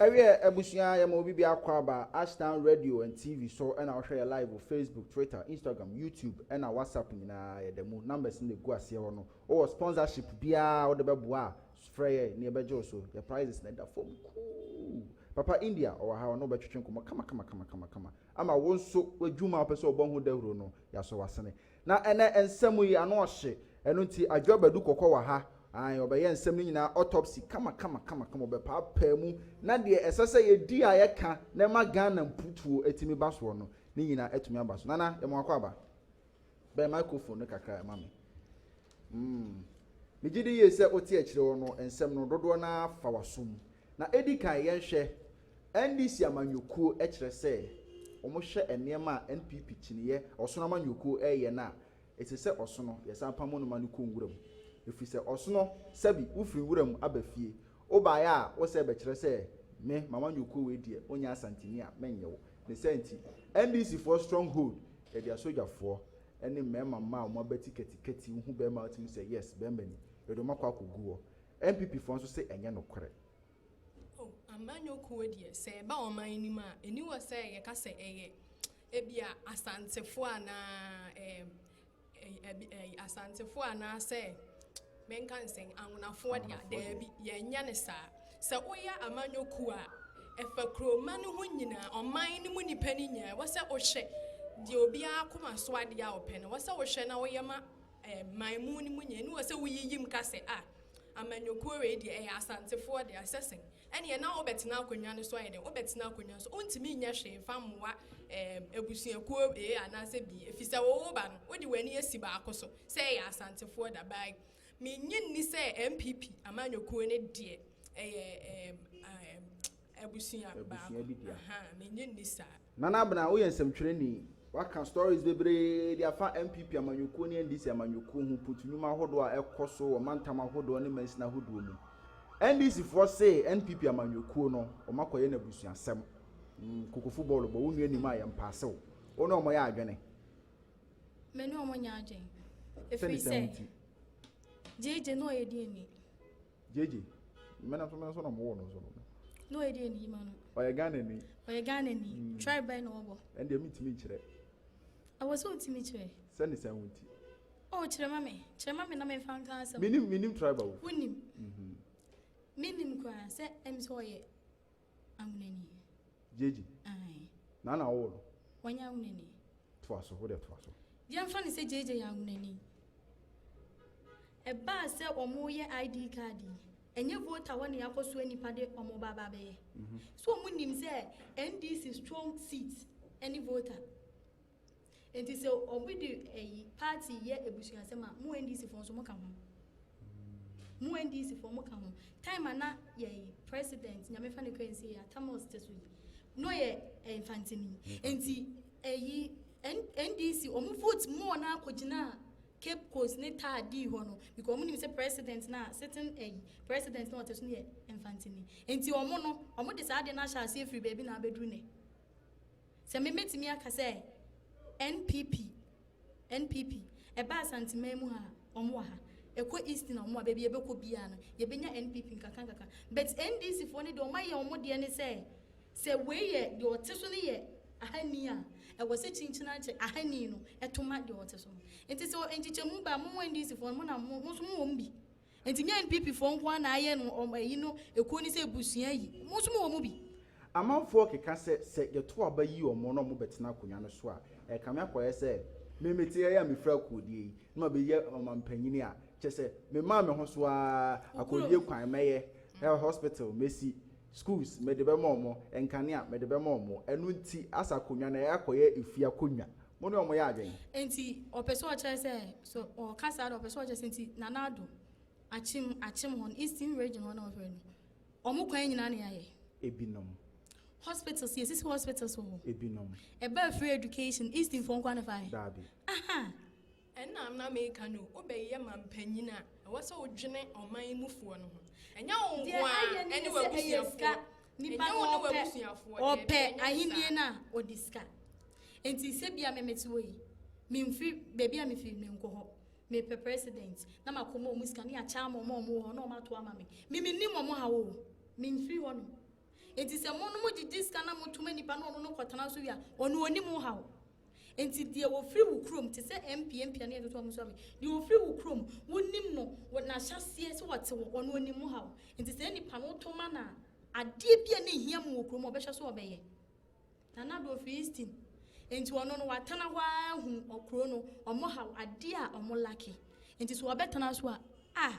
Speaker 2: ɛwiɛ abusua yɛ ma obi bi akɔ aba ashtown radio and tv so ɛna wohwɛ yɛ live wɔ facebook twitter instagram youtube ɛna whatsapp nyinaa yɛda mu numbers no na ɛgu aseɛ hɔ no wowɔ sponsorship biara wode bɛboa a Frɛ yɛ na yɛbɛgye wo so. Yɛ prices no da fam kuu. Papa India ɔwɔ ha ɔne wo bɛtwetwe nkɔmmɔ kamakamakamakama ama wo nso w'adwuma a wopɛ sɛ wobɔ ho dawuro no yɛasɔ w'asene. Na ɛnnɛ nsɛm yi ano ɔhye ɛno nti Adwo Abadu Kɔkɔ wɔ ha aane ɔbɛyɛ nsɛm no nyinaa autopsy kamakamakamakama ɔbɛpaapaa mu na deɛ ɛsɛ sɛ yɛdi a yɛka na ɛma Ghana mputuo atumi ba soɔ no ne nyinaa atumi aba so. Nana yɛma wakɔ aba. Bɛn microphone no kakra ma me. Mm. Megye di yie sɛ wote akyire hɔ no nsɛm no dodoɔ no ara fa w'aso mu. Na ɛdi kan yɛnhwɛ NDC amanyɔkuo kyerɛ sɛ wɔhwɛ nneɛma a NPP kyiniiɛ ɔsono amanyɔkuo reyɛ no a, ɛsɛ sɛ ɔsono yɛsan pamo no ma no kɔ nwura mu. Ɛfiri sɛ ɔsono sɛbi wofiri nwura mu aba fie, Wo baeɛ a wo sɛ bɛkyerɛ sɛ me Mama Nyoko wei deɛ wo nyɛ Asanteni a me nnye wo. Ne saa nti NDC foɔ strong hold yɛde asogyafoɔ ne mmarima mmaa a wɔn abati katikati wo hu barima a wotumi sɛ yes barima ni yɛde wɔn akɔ akɔ gu hɔ. NPP foɔ nso se ɛnyɛ nokorɛ. Oh
Speaker 6: Mama Nyoko wei deɛ sɛ ɛba ɔman yi nim a ɛni wɔ sɛ yɛka sɛ ɛyɛ ebia Asantefoɔ anaa eh Asantefo anaasɛ menka ne sɛn, Anwonafoɔ deɛ a, daabi, yɛnyɛ ne saa. Sɛ woyɛ amanyɔ kuo a, ɛfa kuroma no ho nyinaa, ɔman no mu nnipa no nyinaa. Ɛwɔ sɛ wohwɛ deɛ obiara akoma so adeɛ a ɔpɛ no, ɛwɔ sɛ wohwɛ na woyɛ ma eh, man mu no mu nyinaa. Ne wɔ sɛ woyiyim ka sɛ, a, amanyɔkuo wei deɛ ɛyɛ Asantefoɔ deɛ, ɛsɛ sɛn. ɛnneɛ na wobɛtena akonnwa no so ayɛ dɛn? Wobɛtena akonnwa no so. Wontumi nyɛ hwee mfa mmoa ɛɛm abusuakuo A anaasɛ B, ɛfiri sɛ wo wo ba no, wode w'ani asi baako so, sɛ ɛyɛ Asantefoɔ da baa yi. Mennye nni sɛ NPP amanyɔkuo no deɛ ɛyɛ ɛɛm ɛɛm abusua baako. Abusua bi dea. Ahaa, mennye nni saa. Nana Abena, woyɛ
Speaker 2: nsɛmtwerɛni. Woaka stories bebree de afa NPP amanyɔkuo ne NDC amanyɔkuo ho putu nnwuma ahodoɔ a ɛkɔ so wɔ mantam ahodoɔ ne mansini ahodoɔ mu. NDC foɔ se NPP amanyɔkuo no wɔn akɔyɛ no abusuasɛm. Mm, kokofo bɔɔlo bɔ, wo nua nim a yɛn paase wo. Wo ne wɔn yɛ adwene.
Speaker 3: Me ne wɔn nyɛ adwene. Ɛfiri sɛ, gyegye na ɔyɛ deɛ ni. JJ,
Speaker 2: me nso me nso na mowɔ no nso no. Na ɔyɛ deɛ ni
Speaker 3: ma no. Ɔyɛ Ghana ni.
Speaker 2: Ɔyɛ Ghana ni. Mm. Tribe bɛn na ɔbɔ.
Speaker 3: Ɛndeɛ mentumi nkyerɛ.
Speaker 2: Ɛwɔ sɛ
Speaker 3: wotumi kyerɛ. Sɛ ne sɛn wo nti.
Speaker 2: Oh, kyerɛ
Speaker 3: ma me. Kyerɛ ma me na memfa nka asɛm. Menim menim tribe wo. Wonim. Mhm. Menim koraa sɛ ɛm sɛ ɔyɛ. Amuna ni. Gyegye.
Speaker 2: Ae. Na na ɔwɔ no. Wanyɛ Amuna ni.
Speaker 3: Toa so, wo deɛ
Speaker 2: toa so. Yɛmfa no sɛ Gyegye
Speaker 3: yɛ Amuna ni. Ɛbaa sɛ wɔreyɛ ID card yi, ɛnyɛ voter hɔ na yɛakɔsoa nnipa de wɔn ba aba abɛyɛ. So wɔnim sɛ NDC strong seat ne voter? Enti sɛ obi de ɛyi party yɛ ebusuasɛm a, mo NDC foɔ nso mo ka ho. Mo NDC foɔ mo ka ho. Time a na yɛyi president nyame fa ne kra nsi yɛ Atamos te so yi, na ɔyɛ ɛnfantini. Enti ɛyi NDC ɔmo vote more na akɔ gyina Cape Coast ne taa dii hɔ no because ɔmo nim sɛ president na sitting ɛyi president na ɔte so no yɛ ɛnfantini. Enti ɔmo no ɔmo de saa adeɛ no ahyɛ aseɛ firi baabi na abɛduru nɛ. Sɛ me mɛtumi aka sɛ NPP, NPP, ɛba Asanteman mu ha a, wɔn wɔ ha, ɛkɔ Eastern a, wɔn wɔ ha, baabi yɛbɛkɔ biara no, yɛbɛnya NPP nkakra nkakra. But NDC foɔ no deɛ wɔn ayɛ wɔn deɛ ne sɛ, sɛ wei yɛ deɛ ɔte so no yɛ ahani a, ɛwɔ sɛ kyinkyin akyɛ ahani no to ma deɛ ɔte so no. Nti sɛ nkyekyɛmu ba a, mo NDC foɔ no, mo na mo, mo nso mo wɔ mu bi. Nti nyɛ NPP foɔ nko ara na ayɛ no wɔn ayi no ekuo no sɛ abusua ayi. Wɔn nso mo wɔ mu bi. Amanfoɔ keka
Speaker 2: sɛ sɛ yɛto aba yi wɔn na wɔn bɛtena akonwa no so a, ɛrekame akɔyɛ sɛ me mete ha yi a mefiri akoodie yi na mabɛyɛ ɔmampanyini a kyerɛ sɛ memaa me ho so ara, akoodie kwan mɛyɛ, health hospital mɛsi, schools mede bɛma wɔn, nkanea mede bɛma wɔn, ɛno nti asa akonwa no ɛrekɔ akɔyɛ efie akonwa. Mo ne wɔn yɛ adwen. Nti ɔpɛ sɛ
Speaker 3: ɔkyerɛ sɛ so ɔka saa de ɔpɛ sɛ ɔkyerɛ sɛ nti Nana Addo akyem akyem hɔ no Eastern region hɔ na ɔfrɛ no wɔn kwan nyinaa na yɛayɛ. Ebinom.
Speaker 2: Hospitals
Speaker 3: yɛsisi hospitals wɔ hɔ. Ebinom. Ɛba
Speaker 2: free
Speaker 3: education Eastern foɔ nkoa na ɛfa yɛ. Daabi. Aha. Ɛna na
Speaker 6: meka no o, wobɛyɛ mampanyin a, ɛwɔ sɛ wodwene ɔman mufoɔ no ho. Ɛnyɛ wo nko ara ne w'abusuafoɔ. Ɛnyɛ wo ne
Speaker 3: w'abusuafoɔ. Daabi, ɛnyɛ saa. Ɔpɛ ahennie no a, ɔde sika. Nti sɛ bia me mete hɔ yi, memfiri, baabi a mefiri menkɔ hɔ. Mepɛ president, na makɔ ma ɔmo sika, ne akyɛ ama ɔmo a ɔmo wɔ hɔ, na ɔmo ato ama me. Me mennim ɔmo haw o, memfiri hɔ nom. Nti sɛ mo no mo gyegye sika na moto ma nipa na ɔno no kɔtena so wie a, ɔno ɔnnim wo haw. Enti deɛ ɔfiri wo kurom, te sɛ mpeampea ne atoto a wɔsoa me, deɛ ɔfiri wo kurom, wonim no, wɔ n'ahyɛaseɛ sɛ ɔte hɔ, ɔno ɔnim wo haw. Enti saa nipa no, woto ma no a, adeɛ bi a na ɛhia mu wɔ kurom a ɔbɛhyɛ so ɔbɛyɛ. Na na do ɔfiri Easton. Enti ɔno no, watena hɔ ara ahunu ɔkuro no, wɔn haw, adeɛ a wɔn lake. Enti so ɔbɛtena so a, ah,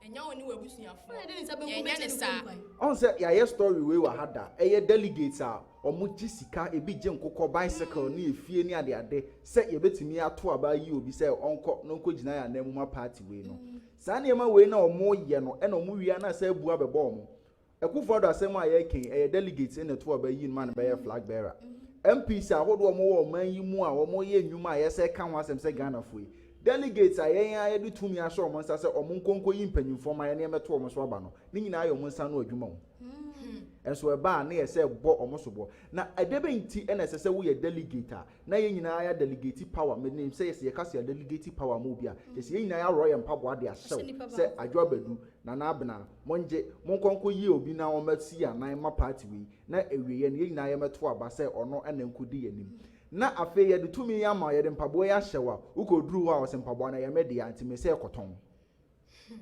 Speaker 6: ɛnyɛ wo ne w'abusuafoɔ na ɛnyɛ ne saa. ɔn sɛ yɛayɛ
Speaker 2: story wei wɔ ha da ɛyɛ delegates a wɔn gye sika ebi gye nkokɔ bicycle ne efie ne adeade sɛ yɛbɛtumi ato aba ayi obi sɛ ɔnkɔ na ɔnkɔ gyina yɛn anan mu ma party wei no saa nneɛma wei na wɔn yɛ no ɛna wɔn wie a na asɛ abu abɛbɔ wɔn Akuffo Addo asɛm a yɛreka yi, ɛyɛ delegates na ɛto aba ayi no ma no bɛyɛ flag bearer. MPs ahodoɔ a wɔwɔ ɔman yi mu a wɔyɛ nnwuma a ɛyɛ sɛ ɛka ho asɛm sɛ Ghanafoɔ yi, delegates a yɛn ara yɛde tumi ahyɛ wɔn nsa sɛ wɔnkɔ nkɔyi mpanyimfoɔ mma yɛne yɛmmɛto wɔn so aba no, ne nyinaa yɛ wɔn nsa ano adwuma o. Nso ɛba a, na ɛyɛ sɛ bɔ wɔn soboɔ. Na ɛdɛbɛn nti na ɛsɛ sɛ woyɛ delegate a na yɛn nyinaa yɛa delegate power? Menim sɛ yɛsɛ yɛka sɛ yɛa delegate power ama obi a, kyerɛ sɛ yɛn nyinaa yɛaworɔ yɛn mpaboa de ahyɛ wo sɛ Adwo Abadu, Nana Abena, Mongye, monkɔ nkɔyi obi na ɔmmɛsi yɛn anan mma party wei, na awieeɛ no yɛn nyinaa yɛmmɛto aba sɛ ɔno na ɛnkɔdi yɛn anim. Na afei yɛde tumi yi ama wo, yɛde mpaboa yi ahyɛ wo a, wokɔduru hɔ a ɔse mpaboa no ɛyɛ me dea, nti mese kɔtɔn. Hmm.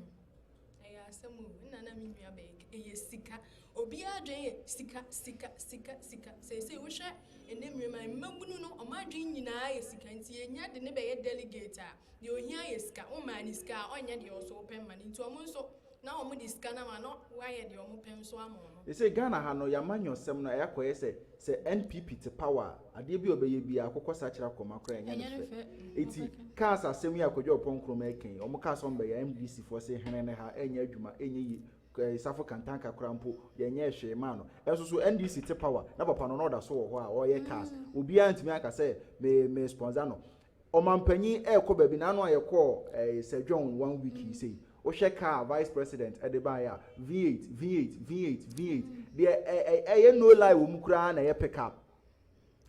Speaker 2: Ɛyɛ
Speaker 6: asɛm o, nna na me nua bɛyɛ kɛ, ɛyɛ sika. Obiara adwene yɛ sika, sika, sika, sika. Seesei wohwɛ ɛnɛ mmerɛ mu a, mmabunu no, wɔn adwene nyinaa yɛ sika, nti yɛnya de no bɛyɛ delegate a, Deɛ ɔhia yɛ sika. Wo maa no sika a, ɔnyɛ deɛ ɔso pɛ mma no. Nti wɔn nso, na wɔn de sika no ama no, na wɔayɛ deɛ wɔn pɛ nso ama wɔn. Seesei Ghana ha no,
Speaker 2: y'amanyɔsɛm no ayɛ akɔyɛ sɛ, sɛ NPP te power a, adeɛ bi a ɔbɛyɛ biara, akokɔ sakyera akoma koraa ɛnyɛ no fɛ. Eti, cars asɛm yi a Kwadwo Ɔpɔn Nkrumah ɛka yi, wɔn kaa sɛ wɔn bɛyɛ a, MDC foɔ se hene no ha, ɛnyɛ adwuma, ɛnyɛ yie, eh, Safo Kantanka koraa mpo, yɛnyɛɛ hwee maa no. Ɛnso so, NDC te power, na papa no, na ɔda so wɔ hɔ a, ɔreyɛ cars. Obiara ntumi anka sɛ, me, me sponsor no. Ɔmanpanyin ɛrekɔ baabi na ano a yɛkɔɔ ɛɛ Sir John one week yi sei wohwɛ car vice president ɛde baayɛ a V8 V8 V8 V8 deɛ ɛɛ ɛyɛ no lie wɔ mu koraa na ɛyɛ pick up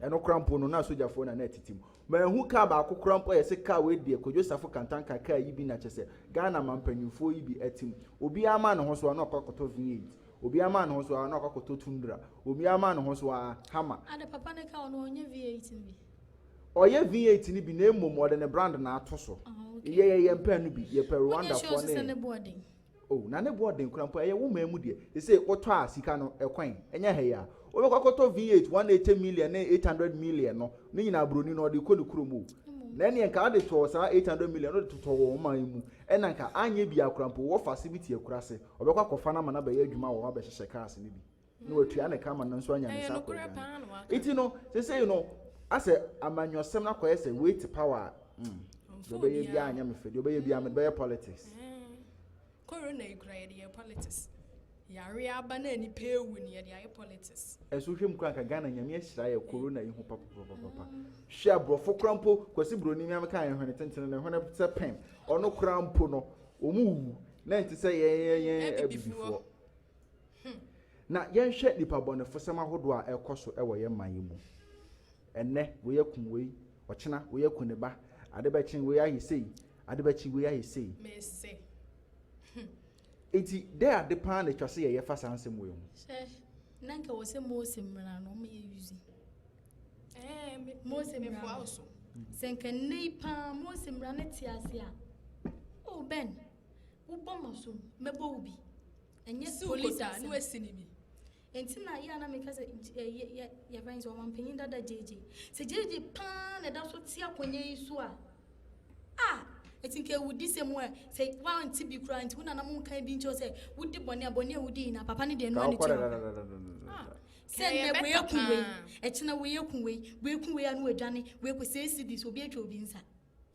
Speaker 2: ɛno koraa mpo no na sogyafoɔ na na ɛtete mu manhu car baako koraa mpo a yɛsɛ car wei deɛ Kojo Safo Kantanka car yi bi na kyɛ sɛ Ghana mampanyinfoɔ yi bi ɛte mu obiara maa ne ho so a na ɔkɔ akɔtɔ V8 obiara maa ne ho so a na ɔkɔ akɔtɔ Tundra obiara maa ne ho so a Hammer. Ade papa ne car
Speaker 3: no ɔnyɛ V8 no bi. Ɔyɛ
Speaker 2: V8 no bi na mmom ɔde ne brand na ato so. Yɛ yɛ yɛn pɛ no bi. Yɛ pɛ Rwanda fo ne. Sɛ ne bo ɔden. Oh, na ne bo ɔden kura mpo ɛyɛ wo man mu deɛ. Sese wotɔ a sika no ɛkwan. Ɛnyɛ ha yi a. Wobɛkɔ akɔtɔ V8 180 million ne 800 million no, ne nyinaa broni na ɔde kɔ ne kurom o. Na ɛneɛ nka ade tɔɔ saa 800 million no de totɔ wɔn man yi mu ɛna nka anyɛ biaa kora mpo wɔ fase bi te akurase ɔbɛkɔ akɔfa no ama no abɛyɛ adwuma wɔ hɔ abɛhyehyɛ cars no bi. na watua ne ka ama no nso anya ne nsa akɔ aduane nti no sesei no asɛ amanyɔsɛm no akɔyɛ sɛ wei te power a mm, deɛ ɔbɛyɛ biara anyɛ me fɛ deɛ ɔbɛyɛ biara mede bɛyɛ politics corona
Speaker 6: yi kura yɛde yɛ politics yare aba na nipa ewu ne yɛde ayɛ politics. ɛso hwɛ mu kura nka
Speaker 2: ghana nyame ahyira yɛ corona yi ho papapapapa hwɛ aborɔfo kura mpo kwasi buroni mi ameka yɛn hwene tenten ne hwene sɛ pɛn ɔno kura mpo no wɔn wu na nti sɛ yɛn yɛn yɛn abibifoɔ. Hmm. Na yɛnhwɛ nnipa bɔnefosɛm ahodoɔ a ɛrekɔ so wɔ yɛn man yi mu. Ɛnnɛ, wei akum wei, ɔkyena wei aku ne ba, ade bɛkye wei ayɛ sei, ade bɛkye wei ayɛ sei. Mese.
Speaker 6: Hmm. Enti,
Speaker 2: dɛ ade paa na ɛtwa sɛ yɛyɛ fa saa nsɛm wei ho. Hwɛ, na nka wɔ
Speaker 3: sɛ Mose mmara no ɔma yɛ yuzi. Eh, Mose mmara no. so. Sɛ nka nnɛ yi paa Mose mmara no te ase a, o oh, Ben, wobɔ ma so, mɛbɔ wo bi. ɛnyɛ polisi a na wasi ne bi
Speaker 6: nti na yɛ a
Speaker 3: na meka sɛ yɛfrɛ sɛ ɔmampanyin dada gyegye sɛ gyegye paa na ɛda so te akonnwa yi so a a ɛti nka awudi sɛ mu a sɛ woante bi koraa nti wonana mo nka bi nkyɛw sɛ wodi bɔne a bɔne a wodi nyina papa no deɛ no ane kyerɛ sɛ nnɛ woyɛ ku wei ɛkyena woyɛ ku wei woyɛ ku wei a no wadwane woyɛ ku sɛ ɛsi di sɛ obi atwa obi nsa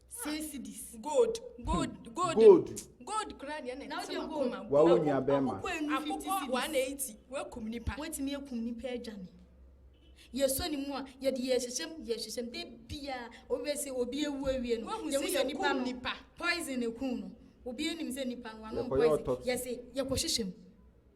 Speaker 3: Six cities. Gold. Gold.
Speaker 6: Hmm. Gold. Gold. Gold kura deɛ na ɛte ma kɔma. Wa wo
Speaker 3: nua bɛrima.
Speaker 2: Akokɔ one
Speaker 6: eighty. Wakum nipa. Watumi akum nipa
Speaker 3: adwane. Yɛsɔ ne mu a yɛde yɛhyehyɛm yɛhyehyɛm de bia obi bɛ sɛ obi ewu awie no. Wahu sɛ yɛ nipa no poison ekun no. Obi enim sɛ nipa no ano poison. Yɛse yɛkɔ hyehyɛm.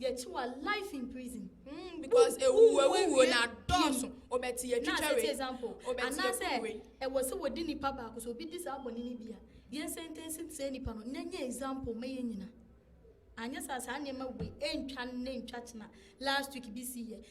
Speaker 3: Yɛkyi wa life in prison. Mm, because
Speaker 6: ewu ewu na dɔɔso. Obɛti yɛ twitwa wei. Obɛti yɛ kuru
Speaker 3: wei. Ɛwɔ sɛ wɔdi nipa baako so obi di saa bɔne no bi a yɛn sɛntɛnsi sɛ nipa no na nyɛ example ma yɛn nyina. Anyɛ saa saa nneɛma wei ɛntwa ne ntwa kyena last week bi si yɛ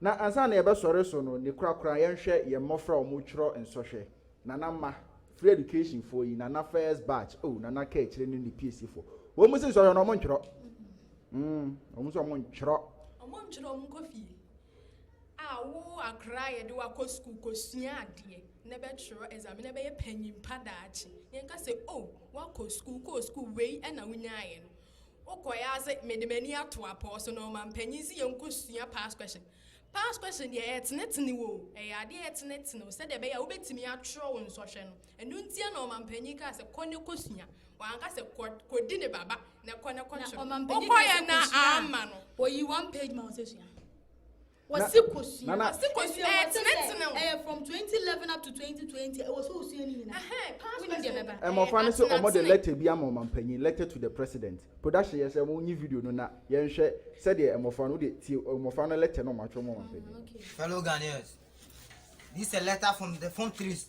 Speaker 3: Na ansa na
Speaker 2: yɛbɛsɔre so no, ne korakora yɛnhwɛ yɛn mmɔfra a wɔretwerɛ nsɔhwɛ, Nana mma, free education foɔ yi, Nana first batch, oh, Nana ka akyire ne ne PSC foɔ. Wɔn mu se nsɔhwɛ no wɔn ntwerɛ. Mm, wɔn mu se wɔn ntwerɛ. Wɔn ntwerɛ wɔn nkɔ
Speaker 6: fie. A wo akora yɛde wakɔ sukuu kɔsua adeɛ na bɛtwerɛ exam na bɛyɛ panyimpa daakye. Yɛnka sɛ, oh, wakɔ sukuu, kɔɔ sukuu wei na wonyaeɛ no. Wokɔɛ ara se mede m'ani ato apɔw so na ɔmampanyin se yɛnkɔsua past question. Past question deɛ ɛɛtenetene wo o, ɛyɛ adeɛ a ɛtenetene wo sɛdeɛ ɛbɛyɛ a wobɛtumi atwerɛ wo nsɔhwɛ no. Ɛno ntia na ɔmampanyin kaa sɛ kɔ ne kɔsua. Wanka sɛ kɔ kɔdi ne baba na kɔ ne kɔtwerɛ.
Speaker 3: Wokɔɛ na
Speaker 6: amma no.
Speaker 3: Oyi
Speaker 6: one
Speaker 3: page ma wo
Speaker 6: sɛ
Speaker 3: sua. Wɔsi kosua. Nana. Wɔsi kosua. Ɛyɛ
Speaker 2: tenetene.
Speaker 3: Ɛyɛ from 2011 up to 2020. Ɛwɔ sɛ osua ne nyinaa. Ɛhɛn. Past Woni deɛ
Speaker 2: bɛba. Mmɔfra no sɛ wɔde lɛtɛ bi ama ɔmampanyin, letter to the president. Production yɛ sɛ monyi video no na yɛnhwɛ sɛdeɛ mmɔfra no, wode tie mmɔfra no lɛtɛ no a wɔatwerɛ ama ɔmampanyin no. Fellow Ghanaians,
Speaker 7: This is a letter from the Form Threes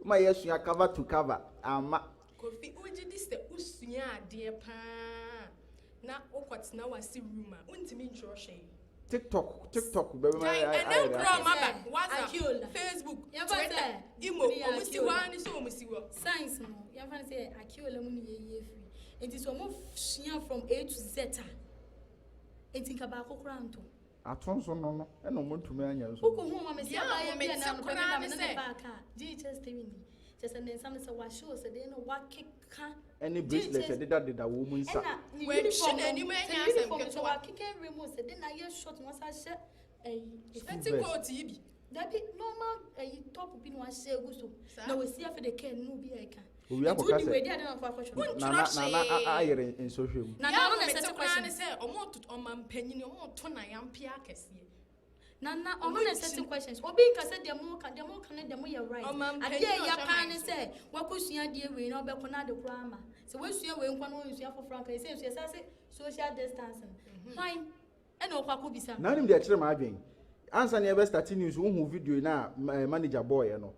Speaker 2: Woma yɛasua cover to cover amma. Kofi
Speaker 6: wogye di sɛ wosua adeɛ paa na wokɔtena wase room a wontumi ntwerɛ hwee. Tiktok
Speaker 2: tiktok bɛbɛma Gyae ayɛ ɛnɛ ayɛ koraa
Speaker 6: ɔmo aba Sɛ WhatsApp, Akiola. Facebook, Yɛmfa no Twitter, sɛ Imo, wofiri ɔmo si hɔ Akiola. ara ne sɛ ɔmo si hɔ.
Speaker 3: Science no yɛmfa no sɛ Akiola mu ne yɛyie firi nti sɛ ɔmo sua from A to Z a nti nka baako koraa ntɔ. Atonso no
Speaker 2: no na wɔntumi anyɛ nso no. Wokohuu ma me sɛ abaayɛ
Speaker 3: bi a na anɔpa bi na me ne no baa kaa, gyee kyɛ stem nni, kyerɛ sɛ ne nsa no sɛ wɔahyew sɛ dɛn na wɔakeka, ne bracelet
Speaker 2: ɛdedadeda wɔn nsa. Ɛna ne
Speaker 6: uniform no, sɛ ne uniform no sɛ wɔakeka awie mu
Speaker 3: sɛ dɛn na ayɛ short na wɔasan ahyɛ ɛyi. Ɛte
Speaker 6: coat yi bi. Dabi normal
Speaker 3: ayi top bi na wahyɛ egu so na wasi afi de kɛn na obi a ɛka. Owia kɔ kasa. Wei di
Speaker 2: adi na afɔ akɔtɔ. Wonkyerɛ hwee. Nana nana ayere nsɔhwɛ mu. Nana ɔno na ɛsɛ
Speaker 6: sɛ kura ne sɛ ɔmo to ɔma mpanyini ɔmo to na yampia akɛseɛ. Nana
Speaker 3: ɔno na ɛsɛ sɛ questions. Obi nka sɛ deɛ mo ka deɛ mo ka ne deɛ mo yɛ right. Adeɛ ɛyɛ paa ne sɛ wakosua adeɛ wei na ɔbɛko na ade koraa ama. Sɛ wasua wei nkwa na ɔnsua foforɔ anka ɛsɛ nsua sase social distancing. Hwan. Ɛna ɔkɔ akɔbisa no. Na wonim deɛ ɛkyere m'adwene?
Speaker 2: Ansa na yɛbɛ starte news, wohuu video yi no a manager bɔeɛ no,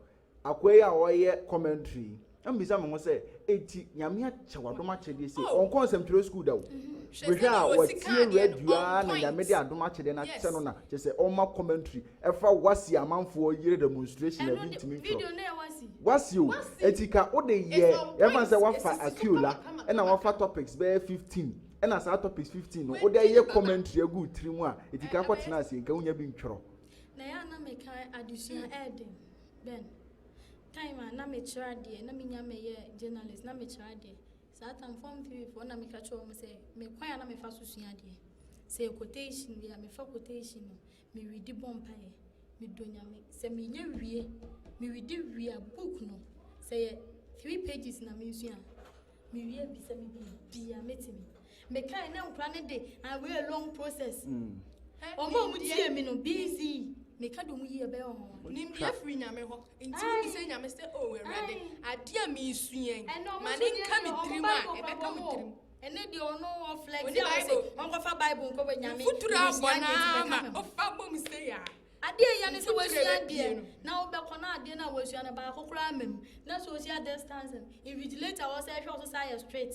Speaker 2: akoa yi a ɔreyɛ commentary yi, na mebisa me ho sɛ, enti Nyame akyɛ w'adom akyɛdeɛ sei? Oh! Ɔnkɔɔ nsɛmtwerɛ school da o. Hwɛ Hwɛ a sɛdeɛ ɔsi watie kaa deɛ no, radio on ara na Nyame point. de adom akyɛdeɛ no akyɛ Yes. no na kyerɛ sɛ ɔrema commentary ɛfa Wasi amanfoɔ yere demonstration a Ɛno ebi ne ntumi ntwerɛ. video no yɛ Wasi. Wasi o, Wasi! enti ka wode It's yɛ, on yɛmfa no sɛ point. wafa Ɛsisi so Akiola, kama kama ɛna kama. wafa topics bɛyɛ 15, ɛna saa topics fifteen no wode ayɛ commentary agu wo tiri mu a ɛti ka kɔtena aseɛ nka wonya bi ntwerɛ na yɛ a na meka
Speaker 3: adesua ɛɛden bɛn time a na mekyerɛ adeɛ na menya mɛyɛ journalist na mekyerɛ adeɛ saa tam fam tirifoɔ na meka kyerɛ wɔn sɛ mekwan a na mefa so sua adeɛ sɛ quotation bi a mefa quotation no Me we di bɔ mpaeɛ me dɔ nyame sɛ me yɛ wie me we di wie a book no sɛ yɛ three pages na me sua me wie bi sɛ me bi bi a me timi me kan na nkura ne de a we a long process ɔmo a ɔmo tie me no busy me ka dom yi ɛbɛyɛ ɔmo nim bi afiri nyame
Speaker 6: hɔ nti mo sɛ nyame sɛ o oh, ɛwɛde adeɛ me sua yi ma ne nka me tirim a ɛbɛka me tirim Ɛnɛ deɛ ɔno
Speaker 3: wɔ flex Oni Bible. Bible. Ɔnkɔfa Bible nkɔ wɔ nyame. Mfuturo Ɛnna abɔ sua deɛ ti naa bɛka
Speaker 6: ma me ho. ɔfa bom sɛ yɛ a. Adeɛ yɛ ne sɛ
Speaker 3: Mfuturo wasua ɛbɛ pie deɛ no. na wobɛkɔ na adeɛ no a wasua no baako koraa ma mu. Na sɛ ɔhyia distance no, invigilator a ɔsɛ hwɛ wo so sɛ ayɛ strict.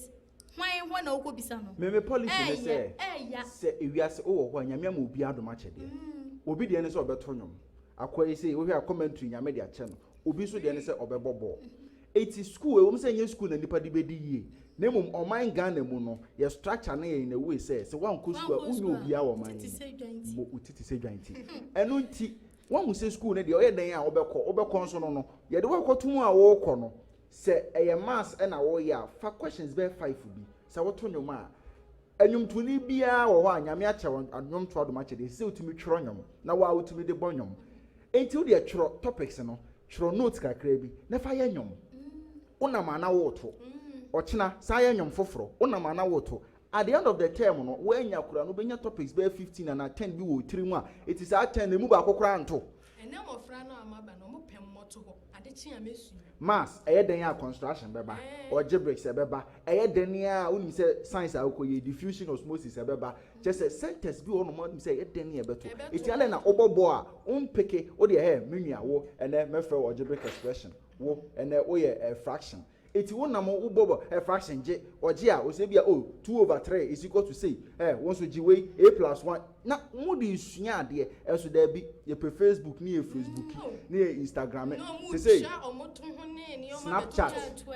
Speaker 3: Hwan hɔ na wokɔbisa no? Me me policy ne sɛ Ɛɛya, ɛɛya.
Speaker 2: sɛ ewiase wowɔ hɔ a Nyame ama obiara adom akyɛdeɛ. Mm. Obi deɛ ne sɛ ɔbɛto nwom. Akoa yi sei wohwɛ a commentary Nyame de akyɛ no. Obi nso deɛ ne sɛ ɔbɛbɔ bɔɔl. Eti sukuu, ɛwom sɛ ɛnyɛ sukuu na nnipa de bedi yie, na mmom ɔman Ghana mu no, yɛ structure no yɛ in a way sɛ, sɛ woankɔ sukuu a, wonyɛ obiara wɔ ɔman yi mu. Wo ti te sɛ dwan ti. Ɛno nti, woahu sɛ sukuu no deɛ, ɔyɛ dɛn a wobɛkɔ, wobɛkɔ nso no no, yɛde wo akɔto mu a worekɔ no, sɛ ɛyɛ maths na woreyɛ a, fa questions bɛyɛ five bi. Sɛ woto nnwom a, nnwomtoni biara wɔ hɔ a Nyame akyɛ wo nnwom to adom akyɛdeɛ, ɛsɛ sɛ wotumi twerɛ nnwom, na wo ara wotumi de bɔ nnwom. Enti wo deɛ twerɛ topics no, twerɛ notes kakra bi na fa yɛ nnwom. Wo nam a na woreto. Ɔkyena, san yɛ nnwom foforɔ. Wo nam a na woreto. At the end of the term no, woannya koraa no, wobɛnya topics bɛyɛ fifteen anaa ten bi wɔ wo tirim a, eti saa ten no, emu baako koraa nto. Ɛnnɛ mmɔfra no
Speaker 6: a wɔaba no, wɔpɛ mmɔtohɔ. Maths ɛyɛ dɛn
Speaker 2: a construction bɛba? Algebraics ɛbɛba. Ɛyɛ dɛn a wonim sɛ science a wokɔ yie diffusion osmosis ɛbɛba. Kyerɛ sɛ centers bi wɔ hɔ nom a wonim sɛ ɛyɛ dɛn a ɛbɛto. Enti adɛn na wobɔ bɔ a wo mpeke wo deɛ hɛ me nua wo ɛnɛ mɛfrɛ wo algebraic expression wo ɛnɛ woyɛ fraction Eti wo nam wo bɔbɔ eh fraction gye ɔgye a ɔsɛ ebia oh two over three is equal to sei eh wo nso gye wei a plus one na mo de sua adeɛ ɛso daabi yɛpɛ facebook ne yɛ fesbuki ne yɛ instagrame sesei snapchat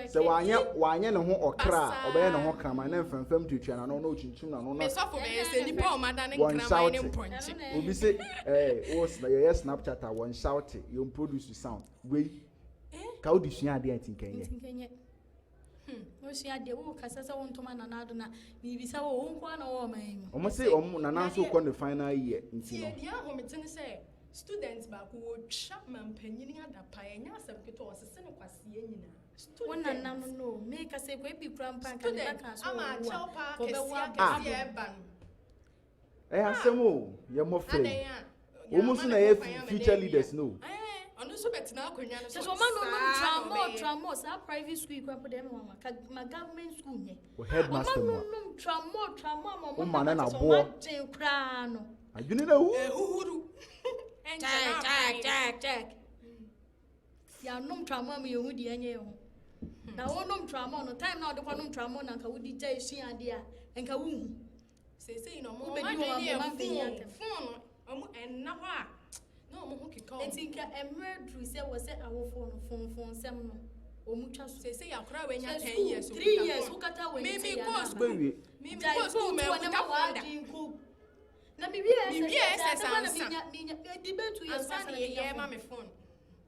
Speaker 2: sɛ wanyɛ wanyɛ ne ho ɔkra a ɔbɛyɛ ne ho kraman na mfɛmfɛm tuatua n'ano na ɔkyinkyim n'ano na
Speaker 6: wɔn shoute obi se
Speaker 2: eh wo yɛyɛ snapchat a wɔn shoute yɛn produce sound wei Eh? Ka wode sua adeɛ a nti nka nyɛ. Nti nka nyɛ. Hmm,
Speaker 3: wosua adeɛ, wo kasa sɛ wo ntoma nana ado na mebisa wo, wo nkoa na wɔwɔ ɔman yi mu. Wɔn se wɔn nana
Speaker 2: nso kɔ ne final year nti no. Tie deɛ ahomete ne sɛ
Speaker 6: student baako wɔtwa mampanyini adapae, ɛnyɛ asɛm ketewa, ɔsese ne kwaseɛ nyinaa. Student. Wo nana
Speaker 3: no no, mekasa ekɔ ebi kura mpa nka ne ba kan so wɔwu a, wɔbɛwu abɛsi. Student,
Speaker 6: ama akyɛw paa kɛseɛ ɛba no. ɛyɛ
Speaker 2: asɛm o yɛ mmɔfra yi wɔn nso na ɛyɛ future leaders no. ɔno nso bɛtena
Speaker 6: akonnwa no so sɛ ɔma no
Speaker 3: nom tramɔ tramɔ saa private school kura po dɛm wɔn ka ma government school nyɛ ɔma no nom tramɔ
Speaker 2: tramɔ ama
Speaker 3: ɔmo ma no na
Speaker 2: boɔ ɔma gyen koraa no
Speaker 3: adwene na ehu
Speaker 2: ehuhuru
Speaker 6: ɛnkyɛn aban
Speaker 3: kyɛk kyɛk yanom tramɔ ama yɛn ho di ɛnyɛ yɛn ho na wɔnom tramɔ no time na ɔde kɔ nom tramɔ na nka wodi gya esua adeɛ a nka wohu. Seesei no
Speaker 6: ɔmo bɛdi wɔn abɛma mpanyin atɛm. Fon no ɔmo ɛnna hɔ a na ɔmo ho keka ɔmo. Eti nka ɛmmerɛ duru
Speaker 3: sɛ wɔ sɛ awofoɔ no fon fon nsɛm no ɔmo twa so. Seesei akora a wanya ten
Speaker 6: years okuta fon. Three years wokata wɔ
Speaker 3: ani sɛ yɛ anaa ba. Mimi kɔɔ
Speaker 6: sukuu
Speaker 3: mɛ nkuta fon da. Na mi wie ɛsɛ sɛ ansa. Ansa na yɛ yɛ ma me
Speaker 6: fon.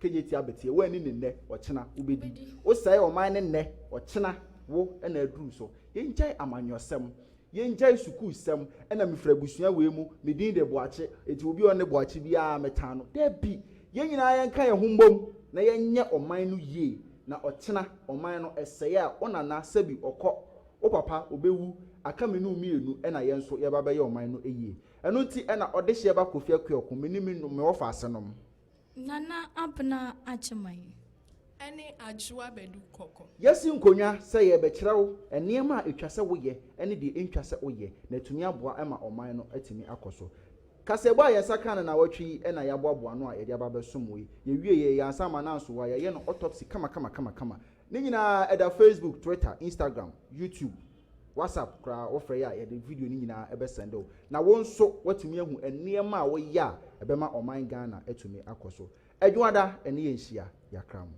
Speaker 2: Kegye tia betie, wo ani ne nnɛ, ɔkyena wo bedi. Wo sɛe ɔman ne nnɛ, ɔkyena wo na aduru so. Yɛn gyae amanyɔsɛm, yɛn gyae sukuu sɛm, ɛna me firi abusua wei mu, me din de Boakye, enti obi a ɔnne Boakye biara me tan no, dabi, yɛn nyinaa yɛn ka yɛn ho mmom na yɛn nyɛ ɔman no yie na ɔkyena ɔman no ɛsɛe a wo nana sɛbi ɔkɔ, wo papa ɔbɛwu, aka me ne wo mmienu ɛna yɛn nso yɛba bɛyɛ ɔman no yie. Ɛno nti ɛna ɔdehyeɛ ba Kofi Akueɔko, me ne me wɔfa asenom. Nana
Speaker 3: Abena Agyeman ne
Speaker 6: Adwoa Badu Kɔkɔ. Yɛasi nkonnwa
Speaker 2: sɛ yɛrebɛkyerɛ wo nneɛma a ɛtwa sɛ woyɛ ne deɛ ɛntwa sɛ woyɛ na atumi aboa ma ɔman no atumi akɔ so. Kaseɛbɔ a yɛn nsa kaa no nnawɔtwe yi na yɛaboaboa ano a yɛde aba abɛsom wo yi. Yɛwieeɛ, yɛn asamanansowa, yɛayɛ no autopsy kama kama kama kama. Ne nyinaa ɛda Facebook, Twitter, Instagram, YouTube, WhatsApp koraa wofrɛ yɛ a yɛde video no nyinaa bɛ sɛnde wo na wo nso woatumi ahu nneɛma a woyɛ a ɛbɛma ɔman Ghana atumi akɔ so. Adwoada ɛne yɛn nhyia yɛakra mo.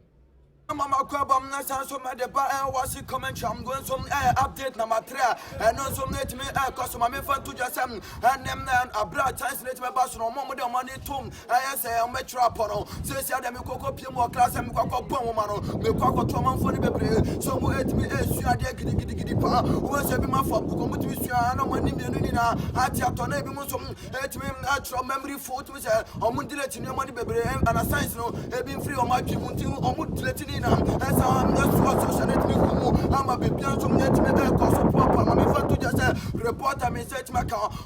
Speaker 2: Mama makɔ
Speaker 1: abam na san so mɛde ba eh, Watching commentary I'm going so eh, update na matrɛ eh, Ɛno nso ɛtumi ɛkɔ so ma memfa nto dwa sɛ eh, Ɛnɛ eh, abrɛ a chance no ɛtumi ɛba so no Ɔmo a ɔmo de ɔmo ani tom ɛyɛ sɛ wɔbɛkyerɛ apɔ no seesia deɛ mekɔ kɔpie mu wɔ class a mekɔ akɔbɔ nwoma no mekɔ akɔto ɔmanfoɔ no bebree sɛ ɔmo ɛtumi ɛsua adeɛ gidigidigidi paa wobɛ sɛ ebi mu afɔ abukɔ ɔmo tumi sua ana ɔmo ani mmienu nyinaa ate atɔ na ebi mu nso ɛtumi ɛtwerɛ memory fo wotumi sɛ ɔmo delete nneɛma no bebree ana science no ebi mfiri ɔmo adwene mu nti ɔmo delete ne nyinaa ɛsɛ ɛsoa social no ɛtumi gu mu ama biribiara nso ɛtumi ɛkɔ so poapoa ma mefa to gya sɛ reporter me sɛ ɛtumi aka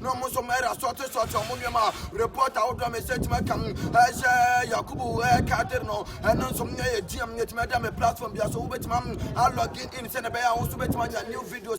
Speaker 1: Na ɔmo nso ɔmo ɛra sɔɔte sɔɔte ɔmo nneɛma report ahodoɔ a mɛsɛ tuma kam ɛhyɛ yakubu ɛka de no ɛno nso mo nyɛ yɛ gm yɛ tuma ɛda me platform bia so wobɛtuma a login in sɛ na ɛbɛyɛ a wo nso bɛtuma nya new videos